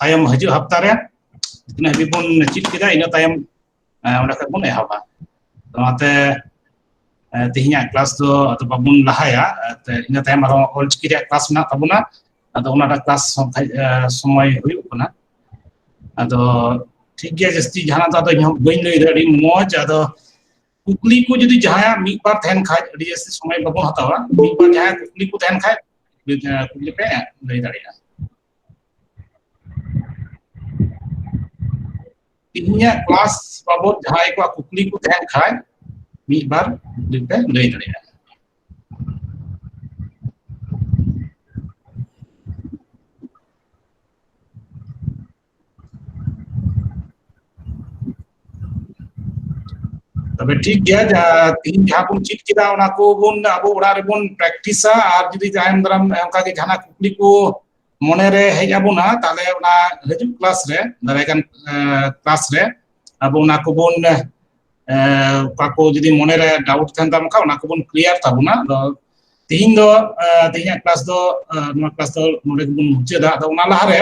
ᱛᱟᱭᱚᱢ ᱦᱤᱡᱩᱜ ᱦᱟᱯᱛᱟ ᱨᱮ ᱛᱤᱱᱟᱹᱜ ᱦᱟᱹᱵᱤᱡ ᱵᱚᱱ ᱪᱮᱫ ᱠᱮᱫᱟ ᱤᱱᱟᱹ ᱛᱟᱭᱚᱢ ᱚᱸᱰᱮ ᱠᱷᱚᱡ ᱵᱚᱱ ᱮᱦᱚᱵᱟ ᱚᱱᱟᱛᱮ ᱛᱮᱦᱮᱧᱟᱜ ᱠᱞᱟᱥ ᱫᱚ ᱟᱫᱚ ᱵᱟᱵᱚᱱ ᱞᱟᱦᱟᱭᱟ ᱤᱱᱟᱹ ᱛᱟᱭᱚᱢ ᱟᱨᱦᱚᱸ ᱚᱞᱪᱤᱠᱤ ᱨᱮᱭᱟᱜ ᱠᱞᱟᱥ ᱢᱮᱱᱟᱜ ᱛᱟᱵᱚᱱᱟ ᱟᱫᱚ ᱚᱱᱟᱴᱟᱜ ᱠᱞᱟᱥ ᱥᱚᱢᱚᱭ ᱦᱩᱭᱩᱜ ᱠᱟᱱᱟ ᱟᱫᱚ ᱴᱷᱤᱠ ᱜᱮᱭᱟ ᱡᱟᱹᱥᱛᱤ ᱡᱟᱦᱟᱱᱟᱜ ᱫᱚ ᱟᱫᱚ ᱤᱧ ᱦᱚᱸ ᱵᱟᱹᱧ ᱞᱟᱹᱭᱫᱟ ᱟᱹᱰᱤ ᱢᱚᱡᱽ ᱟᱫᱚ ᱠᱩᱠᱞᱤ ᱠᱚ ᱡᱩᱫᱤ ᱡᱟᱦᱟᱸᱭᱟᱜ ᱢᱤᱫ ᱵᱟᱨ ᱛᱟᱦᱮᱱ ᱠᱷᱟᱡ ᱟᱹᱰᱤ ᱡᱟᱹᱥᱛᱤ ᱥᱚᱢᱚᱭ ᱵᱟᱵᱚᱱ ᱦᱟᱛᱟᱣᱟ ᱢᱤᱫ ᱵᱟᱨ ᱡᱟᱦᱟᱸᱭᱟᱜ ᱠᱩᱠᱞᱤ ᱠᱚ ᱛᱟᱦᱮᱱ ᱠᱷᱟᱡ ᱠᱩᱠᱞᱤ ᱯᱮ ᱞᱟᱹᱭ ᱫᱟᱲᱮᱭᱟᱜᱼᱟ ᱤᱧᱟᱹᱜ ᱠᱞᱟᱥ ᱵᱟᱵᱚᱫ ᱡᱟᱦᱟᱸᱭ ᱠᱚᱣᱟᱜ ᱠᱩᱠᱞᱤ ᱠᱚ ᱛᱟᱦᱮᱱ ᱠᱷᱟᱡ ᱢᱤᱫ ᱵᱟᱨ ᱞᱟᱹᱭ ᱫᱟᱲᱮᱭᱟᱜᱼᱟ ᱛᱚᱵᱮ ᱴᱷᱤᱠ ᱜᱮᱭᱟ ᱡᱟᱦᱟᱸ ᱛᱤᱦᱤᱧ ᱡᱟᱦᱟᱸ ᱵᱚᱱ ᱪᱮᱫ ᱠᱮᱫᱟ ᱚᱱᱟ ᱠᱚᱵᱚᱱ ᱟᱵᱚ ᱚᱲᱟᱜ ᱨᱮᱵᱚᱱ ᱯᱨᱮᱠᱴᱤᱥᱟ ᱟᱨ ᱡᱩᱫᱤ ᱡᱟᱦᱟᱸᱭ ᱫᱟᱨᱟᱢ ᱚᱱᱠᱟ ᱜᱮ ᱡᱟᱦᱟᱱᱟᱜ ᱠᱩᱠᱞᱤ ᱠᱚ ᱢᱚᱱᱮᱨᱮ ᱦᱮᱡ ᱟᱵᱚᱱᱟ ᱛᱟᱦᱚᱞᱮ ᱚᱱᱟ ᱦᱤᱡᱩᱜ ᱠᱞᱟᱥ ᱨᱮ ᱫᱟᱨᱟᱭ ᱠᱟᱱ ᱠᱞᱟᱥ ᱨᱮ ᱟᱵᱚ ᱚᱱᱟ ᱠᱚᱵᱚᱱ ᱚᱠᱟ ᱠᱚ ᱡᱩᱫᱤ ᱢᱚᱱᱮᱨᱮ ᱰᱟᱣᱩᱴ ᱛᱟᱦᱮᱱ ᱛᱟᱢ ᱠᱷᱟᱱ ᱚᱱᱟ ᱠᱚᱵᱚᱱ ᱠᱞᱤᱭᱟᱨ ᱛᱟᱵᱚᱱᱟ ᱟᱫᱚ ᱛᱤᱦᱤᱧ ᱫᱚ ᱛᱤᱦᱤᱧᱟᱜ ᱠᱞᱟᱥ ᱫᱚ ᱱᱚᱣᱟ ᱠᱞᱟᱥ ᱫᱚ ᱱᱚᱰᱮ ᱜᱮᱵᱚᱱ ᱢᱩᱪᱟᱹᱫᱟ ᱟᱫᱚ ᱚᱱᱟ ᱞᱟᱦᱟᱨᱮ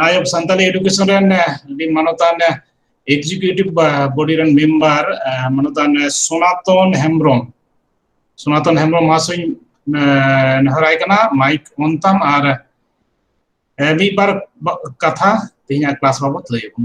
ᱟᱭᱚᱵ ᱥᱟᱱᱛᱟᱞᱤ ᱮᱰᱩᱠᱮᱥᱚᱱ ᱨᱮᱱ ᱟᱹᱰᱤ ᱢᱟᱱᱚᱛᱟᱱ ᱮᱠᱡᱤᱠᱤᱭᱩᱴᱤᱵᱷ ᱵᱚᱰᱤ ᱨᱮᱱ ᱢᱮᱢᱵᱟᱨ ᱢᱟᱱᱚᱛᱟᱱ ᱥᱚᱱᱟᱛᱚᱱ ᱦᱮᱢᱵᱨᱚᱢ ᱥᱚᱱᱟᱛᱚᱱ ᱦᱮᱢᱵᱨᱚᱢ ᱢᱚᱦᱟᱥᱚᱭ ᱱᱮᱦᱚᱨᱟᱭ ᱠᱟᱱᱟ ᱢᱟᱭᱤᱠ ᱚᱱ ᱛᱟᱢ ᱟᱨ ᱢᱤᱫ ᱵᱟᱨ ᱠᱟᱛᱷᱟ ᱛᱮᱦᱮᱧᱟᱜ ᱠᱞᱟᱥ ᱵᱟᱵᱚᱛ ᱞᱟᱹᱭ ᱟᱵᱚᱱ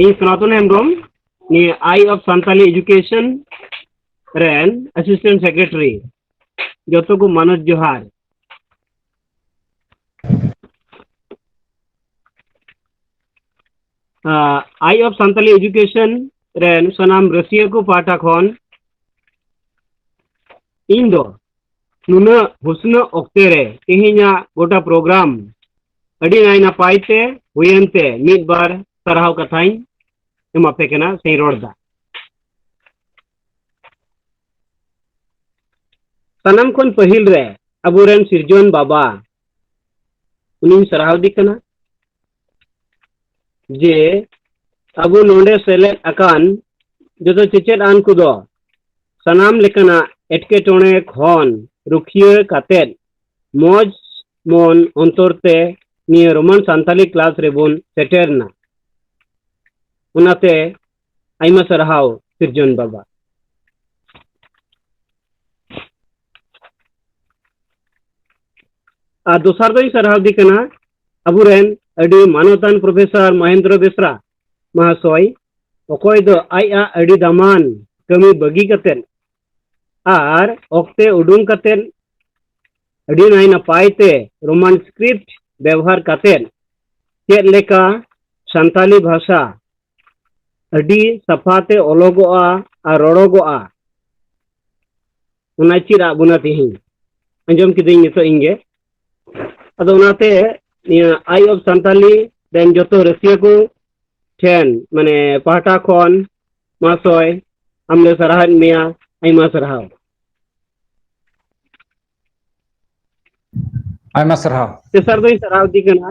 ᱤᱧ ᱥᱚᱱᱟᱛᱚᱱ ᱦᱮᱢᱵᱨᱚᱢ ᱱᱤᱭᱟᱹ ᱟᱭ ᱚᱯᱷ ᱥᱟᱱᱛᱟᱞᱤ ᱮᱰᱩᱠᱮᱥᱚᱱ ᱨᱮᱱ ᱟᱥᱤᱥᱴᱮᱱᱴ ᱥᱮᱠᱨᱮᱴᱟᱨᱤ ᱡᱚᱛᱚ ᱠᱚ ᱢᱟᱱᱚᱛ ᱡᱚᱦᱟᱨ ᱟᱭ ᱚᱯᱷ ᱥᱟᱱᱛᱟᱞᱤ ᱮᱰᱩᱠᱮᱥᱚᱱ ᱨᱮᱱ ᱥᱟᱱᱟᱢ ᱨᱟᱹᱥᱤᱭᱟᱹ ᱠᱚ ᱯᱟᱦᱴᱟ ᱠᱷᱚᱱ ᱤᱧ ᱫᱚ ᱱᱩᱱᱟᱹᱜ ᱦᱩᱥᱱᱟᱹ ᱚᱠᱛᱮ ᱨᱮ ᱛᱮᱦᱮᱧᱟᱜ ᱜᱚᱴᱟ ᱯᱨᱳᱜᱨᱟᱢ ᱟᱹᱰᱤ ᱱᱟᱭ ᱱᱟᱯᱟᱭ ᱛᱮ ᱦᱩᱭᱮᱱ ᱛᱮ ᱢᱤᱫ ᱵᱟᱨ ᱥᱟᱨᱦᱟᱣ ᱠᱟᱛᱷᱟᱧ ᱮᱢᱟᱯᱮ ᱠᱟᱱᱟ ᱥᱮᱧ ᱨᱚᱲᱫᱟ ᱥᱟᱱᱟᱢ ᱠᱷᱚᱱ ᱯᱟᱹᱦᱤᱞ ᱨᱮ ᱟᱵᱚᱨᱮᱱ ᱥᱤᱨᱡᱚᱱ ᱵᱟᱵᱟ ᱩᱱᱤᱧ ᱥᱟᱨᱦᱟᱣᱫᱮ ᱠᱟᱱᱟ ᱡᱮ ᱟᱵᱚ ᱱᱚᱰᱮ ᱥᱮᱞᱮᱫ ᱟᱠᱟᱱ ᱡᱚᱛᱚ ᱪᱮᱪᱮᱫ ᱟᱱ ᱠᱚᱫᱚ ᱥᱟᱱᱟᱢ ᱞᱮᱠᱟᱱᱟᱜ ᱮᱴᱠᱮᱴᱚᱬᱮ ᱠᱷᱚᱱ ᱨᱩᱠᱷᱤᱭᱟᱹ ᱠᱟᱛᱮᱫ ᱢᱚᱡᱽ ᱢᱚᱱ ᱚᱱᱛᱚᱨ ᱛᱮ ᱱᱤᱭᱟᱹ ᱨᱳᱢᱟᱱ ᱥᱟᱱᱛᱟᱞᱤ ᱠᱞᱟᱥ ᱨᱮᱵᱚᱱ ᱥᱮᱴᱮᱨᱱᱟ ᱚᱱᱟᱛᱮ ᱟᱭᱢᱟ ᱥᱟᱨᱦᱟᱣ ᱥᱤᱨᱡᱚᱱ ᱵᱟᱵᱟ ᱟᱨ ᱫᱚᱥᱟᱨ ᱫᱚᱧ ᱥᱟᱨᱦᱟᱣ ᱫᱤ ᱠᱟᱱᱟ ᱟᱵᱚᱨᱮᱱ ᱟᱹᱰᱤ ᱢᱟᱱᱚᱛᱟᱱ ᱯᱨᱚᱯᱷᱮᱥᱚᱨ ᱢᱚᱦᱮᱱᱫᱨᱚ ᱵᱮᱥᱨᱟ ᱢᱟᱦᱟᱥᱚᱭ ᱚᱠᱚᱭ ᱫᱚ ᱟᱡ ᱟᱜ ᱟᱹᱰᱤ ᱫᱟᱢᱟᱱ ᱠᱟᱹᱢᱤ ᱵᱟᱹᱜᱤ ᱠᱟᱛᱮᱫ ᱟᱨ ᱚᱠᱛᱮ ᱩᱰᱩᱝ ᱠᱟᱛᱮᱫ ᱟᱹᱰᱤ ᱱᱟᱭ ᱱᱟᱯᱟᱭ ᱛᱮ ᱨᱳᱢᱟᱱ ᱥᱠᱨᱤᱯᱴ ᱵᱮᱵᱚᱦᱟᱨ ᱠᱟᱛᱮᱫ ᱪᱮᱫ ᱞᱮᱠᱟ ᱥᱟᱱᱛᱟᱞᱤ ᱵᱷᱟᱥᱟ ᱟᱹᱰᱤ ᱥᱟᱯᱷᱟ ᱛᱮ ᱚᱞᱚᱜᱚᱜᱼᱟ ᱟᱨ ᱨᱚᱲᱚᱜᱚᱜᱼᱟ ᱚᱱᱟ ᱪᱮᱫ ᱟᱫ ᱵᱚᱱᱟ ᱛᱮᱦᱮᱧ ᱟᱸᱡᱚᱢ ᱠᱤᱫᱟᱹᱧ ᱱᱤᱛᱚᱜ ᱤᱧ ᱜᱮ ᱟᱫᱚ ᱚᱱᱟᱛᱮ ᱱᱤᱭᱟᱹ ᱟᱭ ᱚᱯᱷ ᱥᱟᱱᱛᱟᱞᱤ ᱨᱮᱱ ᱡᱚᱛᱚ ᱨᱟᱹᱥᱤᱭᱟᱹ ᱠᱚ ᱴᱷᱮᱱ ᱢᱟᱱᱮ ᱯᱟᱦᱴᱟ ᱠᱷᱚᱱ ᱢᱟᱥᱚᱭ ᱟᱢ ᱞᱮ ᱥᱟᱨᱦᱟᱣᱮᱫ ᱢᱮᱭᱟ ᱟᱭᱢᱟ ᱥᱟᱨᱦᱟᱣ ᱟᱭᱢᱟ ᱥᱟᱨᱦᱟᱣ ᱛᱮᱥᱟᱨ ᱫᱚᱧ ᱥᱟᱨᱦᱟᱣ ᱤᱫᱤ ᱠᱟᱱᱟ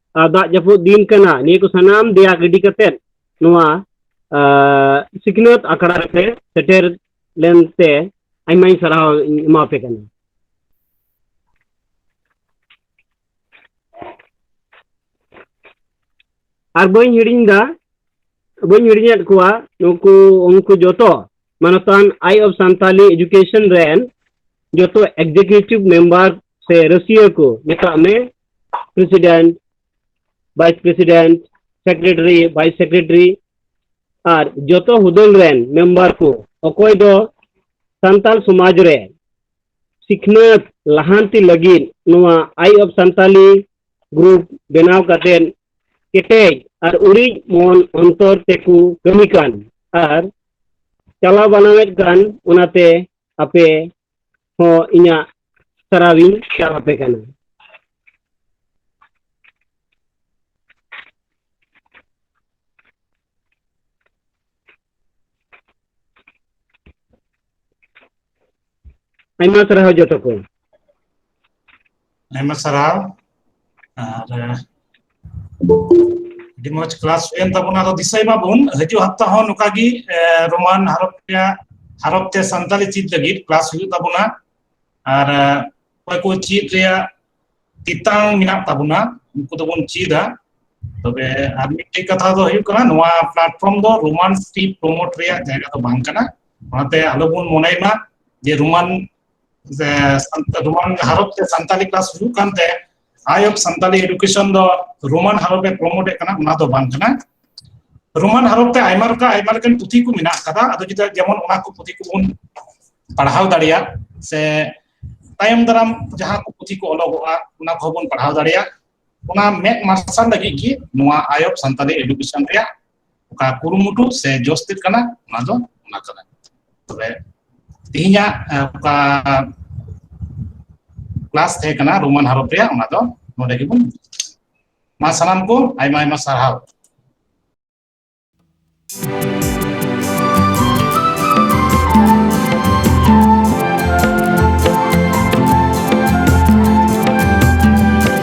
ᱫᱟᱜ ᱡᱟᱹᱯᱩᱫ ᱫᱤᱱ ᱠᱟᱱᱟ ᱱᱤᱭᱟᱹ ᱠᱚ ᱥᱟᱱᱟᱢ ᱫᱮᱭᱟ ᱜᱤᱰᱤ ᱠᱟᱛᱮᱫ ᱱᱚᱣᱟ ᱥᱤᱠᱷᱱᱟᱹᱛ ᱟᱠᱷᱲᱟ ᱨᱮᱯᱮ ᱥᱮᱴᱮᱨ ᱞᱮᱱᱛᱮ ᱟᱭᱢᱟᱧ ᱥᱟᱨᱦᱟᱣ ᱤᱧ ᱮᱢᱟᱯᱮ ᱠᱟᱱᱟ ᱟᱨ ᱵᱟᱹᱧ ᱦᱤᱲᱤᱧ ᱫᱟ ᱵᱟᱹᱧ ᱦᱤᱲᱤᱧᱮᱫ ᱠᱚᱣᱟ ᱱᱩᱠᱩ ᱩᱱᱠᱩ ᱡᱚᱛᱚ ᱢᱟᱱᱚᱛᱟᱱ ᱟᱭ ᱚᱯᱷ ᱥᱟᱱᱛᱟᱞᱤ ᱮᱰᱩᱠᱮᱥᱚᱱ ᱨᱮᱱ ᱡᱚᱛᱚ ᱮᱠᱡᱤᱠᱤᱭᱩᱴᱤᱵᱷ ᱢᱮᱢᱵᱟᱨ ᱥᱮ ᱨᱟᱹᱥᱤᱭᱟᱹ ᱠᱚ ᱢᱮᱛᱟᱜ ᱢᱮ president vice president secretary vice secretary ᱟᱨ ᱡᱚᱛᱚ ᱦᱩᱫᱟᱹᱞ ᱨᱮᱱ ᱢᱮᱢᱵᱟᱨ ᱠᱚ ᱚᱠᱚᱭ ᱫᱚ ᱥᱟᱱᱛᱟᱞ ᱥᱚᱢᱟᱡᱽ ᱨᱮ ᱥᱤᱠᱷᱱᱟᱹᱛ ᱞᱟᱦᱟᱱᱛᱤ ᱞᱟᱹᱜᱤᱫ ᱱᱚᱣᱟ ᱟᱭ ᱚᱯᱷ ᱥᱟᱱᱛᱟᱞᱤ ᱜᱨᱩᱯ ᱵᱮᱱᱟᱣ ᱠᱟᱛᱮ ᱠᱮᱴᱮᱡ ᱟᱨ ᱩᱲᱤᱡ ᱢᱚᱱ ᱚᱱᱛᱚᱨ ᱛᱮᱠᱚ ᱠᱟᱹᱢᱤ ᱠᱟᱱ ᱟᱨ ᱪᱟᱞᱟᱣ ᱵᱟᱱᱟᱣᱮᱫ ᱠᱟᱱ ᱚᱱᱟᱛᱮ ᱟᱯᱮ ᱦᱚᱸ ᱤᱧᱟᱹᱜ ᱥᱟᱨᱦᱟᱣᱤᱧ ᱪᱟᱞ ᱟᱯᱮ ᱠᱟᱱᱟ ᱾ ᱟᱭᱢᱟ ᱥᱟᱨᱦᱟᱣ ᱡᱚᱛᱚ ᱠᱚ ᱾ ᱟᱭᱢᱟ ᱥᱟᱨᱦᱟᱣ ᱟᱨ ᱟᱹᱰᱤ ᱢᱚᱸᱡᱽ ᱠᱞᱟᱥ ᱦᱩᱭᱮᱱ ᱛᱟᱵᱚᱱᱟ ᱟᱫᱚ ᱫᱤᱥᱟᱹᱭ ᱢᱟᱵᱚᱱ ᱦᱤᱡᱩᱜ ᱦᱟᱯᱛᱟ ᱦᱚᱸ ᱱᱚᱝᱠᱟ ᱜᱮ ᱨᱳᱢᱟᱱ ᱦᱚᱨᱚᱯ ᱨᱮᱭᱟᱜ ᱦᱟᱨᱚᱯ ᱛᱮ ᱥᱟᱱᱛᱟᱞᱤ ᱪᱮᱫ ᱞᱟᱹᱜᱤᱫ ᱠᱞᱟᱥ ᱦᱩᱭᱩᱜ ᱛᱟᱵᱚᱱᱟ ᱟᱨ ᱚᱠᱚᱭ ᱠᱚ ᱪᱮᱫ ᱨᱮᱭᱟᱜ ᱛᱮᱛᱟᱝ ᱢᱮᱱᱟᱜ ᱛᱟᱵᱚᱱᱟ ᱩᱱᱠᱩ ᱫᱚᱵᱚᱱ ᱪᱮᱫᱟ ᱛᱚᱵᱮ ᱟᱨ ᱢᱤᱫᱴᱮᱡ ᱠᱟᱛᱷᱟ ᱫᱚ ᱦᱩᱭᱩᱜ ᱠᱟᱱᱟ ᱱᱚᱣᱟ ᱯᱞᱟᱴᱯᱷᱚᱨᱢ ᱫᱚ ᱨᱳᱢᱟᱱ ᱥᱠᱨᱤᱯᱴ ᱯᱨᱳᱢᱳᱴ ᱨᱮᱭᱟᱜ ᱡᱟᱭᱜᱟ ᱫᱚ ᱵᱟᱝ ᱠᱟᱱᱟ ᱚᱱᱟᱛᱮ ᱟᱞᱚᱵᱚᱱ ᱢᱚᱱᱮᱭ ᱢᱟ ᱡᱮ ᱨᱳᱢᱟᱱ ᱡᱮ ᱨᱳᱢᱟᱱ ᱦᱟᱨᱚᱯ ᱛᱮ ᱥᱟᱱᱛᱟᱞᱤ ᱠᱞᱟᱥ ᱦᱩᱭᱩᱜ ᱠᱟᱱ ᱛᱮ ᱟᱭ ᱚᱯᱷ ᱥᱟᱱᱛᱟᱞᱤ ᱮᱰᱩᱠᱮᱥᱚᱱ ᱫᱚ ᱨᱳᱢᱟᱱ ᱦᱟᱨᱚᱯ ᱮ ᱯᱨᱚᱢᱳᱴ ᱮ ᱠᱟᱱᱟ ᱚᱱᱟ ᱫᱚ ᱵᱟᱝ ᱠᱟᱱᱟ ᱨᱳᱢᱟᱱ ᱦᱟᱨᱚᱯ ᱛᱮ ᱟᱭᱢᱟ ᱨᱚᱠᱟ ᱟᱭᱢᱟ ᱞᱮᱠᱟᱱ ᱯᱩᱛᱷᱤ ᱠᱚ ᱢᱮᱱᱟᱜ ᱟᱠᱟᱫᱟ ᱟᱫᱚ ᱡᱩᱫᱤ ᱡᱮᱢᱚᱱ ᱚᱱᱟ ᱠᱚ ᱯᱩᱛᱷᱤ ᱠᱚᱵᱚᱱ ᱯᱟᱲᱦᱟᱣ ᱫᱟᱲᱮᱭᱟᱜ ᱥᱮ ᱛᱟᱭᱚᱢ ᱫᱟᱨᱟᱢ ᱡᱟᱦᱟᱸ ᱠᱚ ᱯᱩᱛᱷᱤ ᱠᱚ ᱚᱞᱚᱜᱚᱜᱼᱟ ᱚᱱᱟ ᱠᱚᱦᱚᱸ ᱵᱚᱱ ᱯᱟᱲᱦᱟᱣ ᱫᱟᱲᱮᱭᱟᱜ ᱚᱱᱟ ᱢᱮᱫ ᱢᱟᱨᱥᱟᱞ ᱞᱟᱹᱜᱤᱫ ᱜᱮ ᱱᱚᱣᱟ ᱟᱭ ᱚᱯᱷ ᱥᱟᱱᱛᱟᱞᱤ ᱮᱰᱩᱠᱮᱥᱚᱱ ᱨᱮᱭᱟᱜ ᱚᱠᱟ ᱠᱩᱨᱩᱢᱩᱴᱩ ᱥᱮ ᱡᱚᱥ ᱛᱮᱫ ᱠᱟᱱᱟ ᱚᱱᱟ ᱫᱚ ᱚᱱᱟ ᱠᱟᱱᱟ ᱛᱚᱵᱮ ᱛᱮᱦᱮᱧᱟᱜ ᱚᱠᱟ ᱠᱞᱟᱥ ᱛᱟᱦᱮᱸ ᱠᱟᱱᱟ ᱨᱳᱢᱟᱱ ᱦᱟᱨᱚᱯ ᱨᱮᱭᱟᱜ ᱚᱱᱟ ᱫᱚ ᱱᱚᱰᱮ ᱜᱮᱵᱚᱱ ᱢᱟ ᱥᱟᱱᱟᱢ ᱠᱚ ᱟᱭᱢᱟ ᱟᱭᱢᱟ ᱥᱟᱨᱦᱟᱣ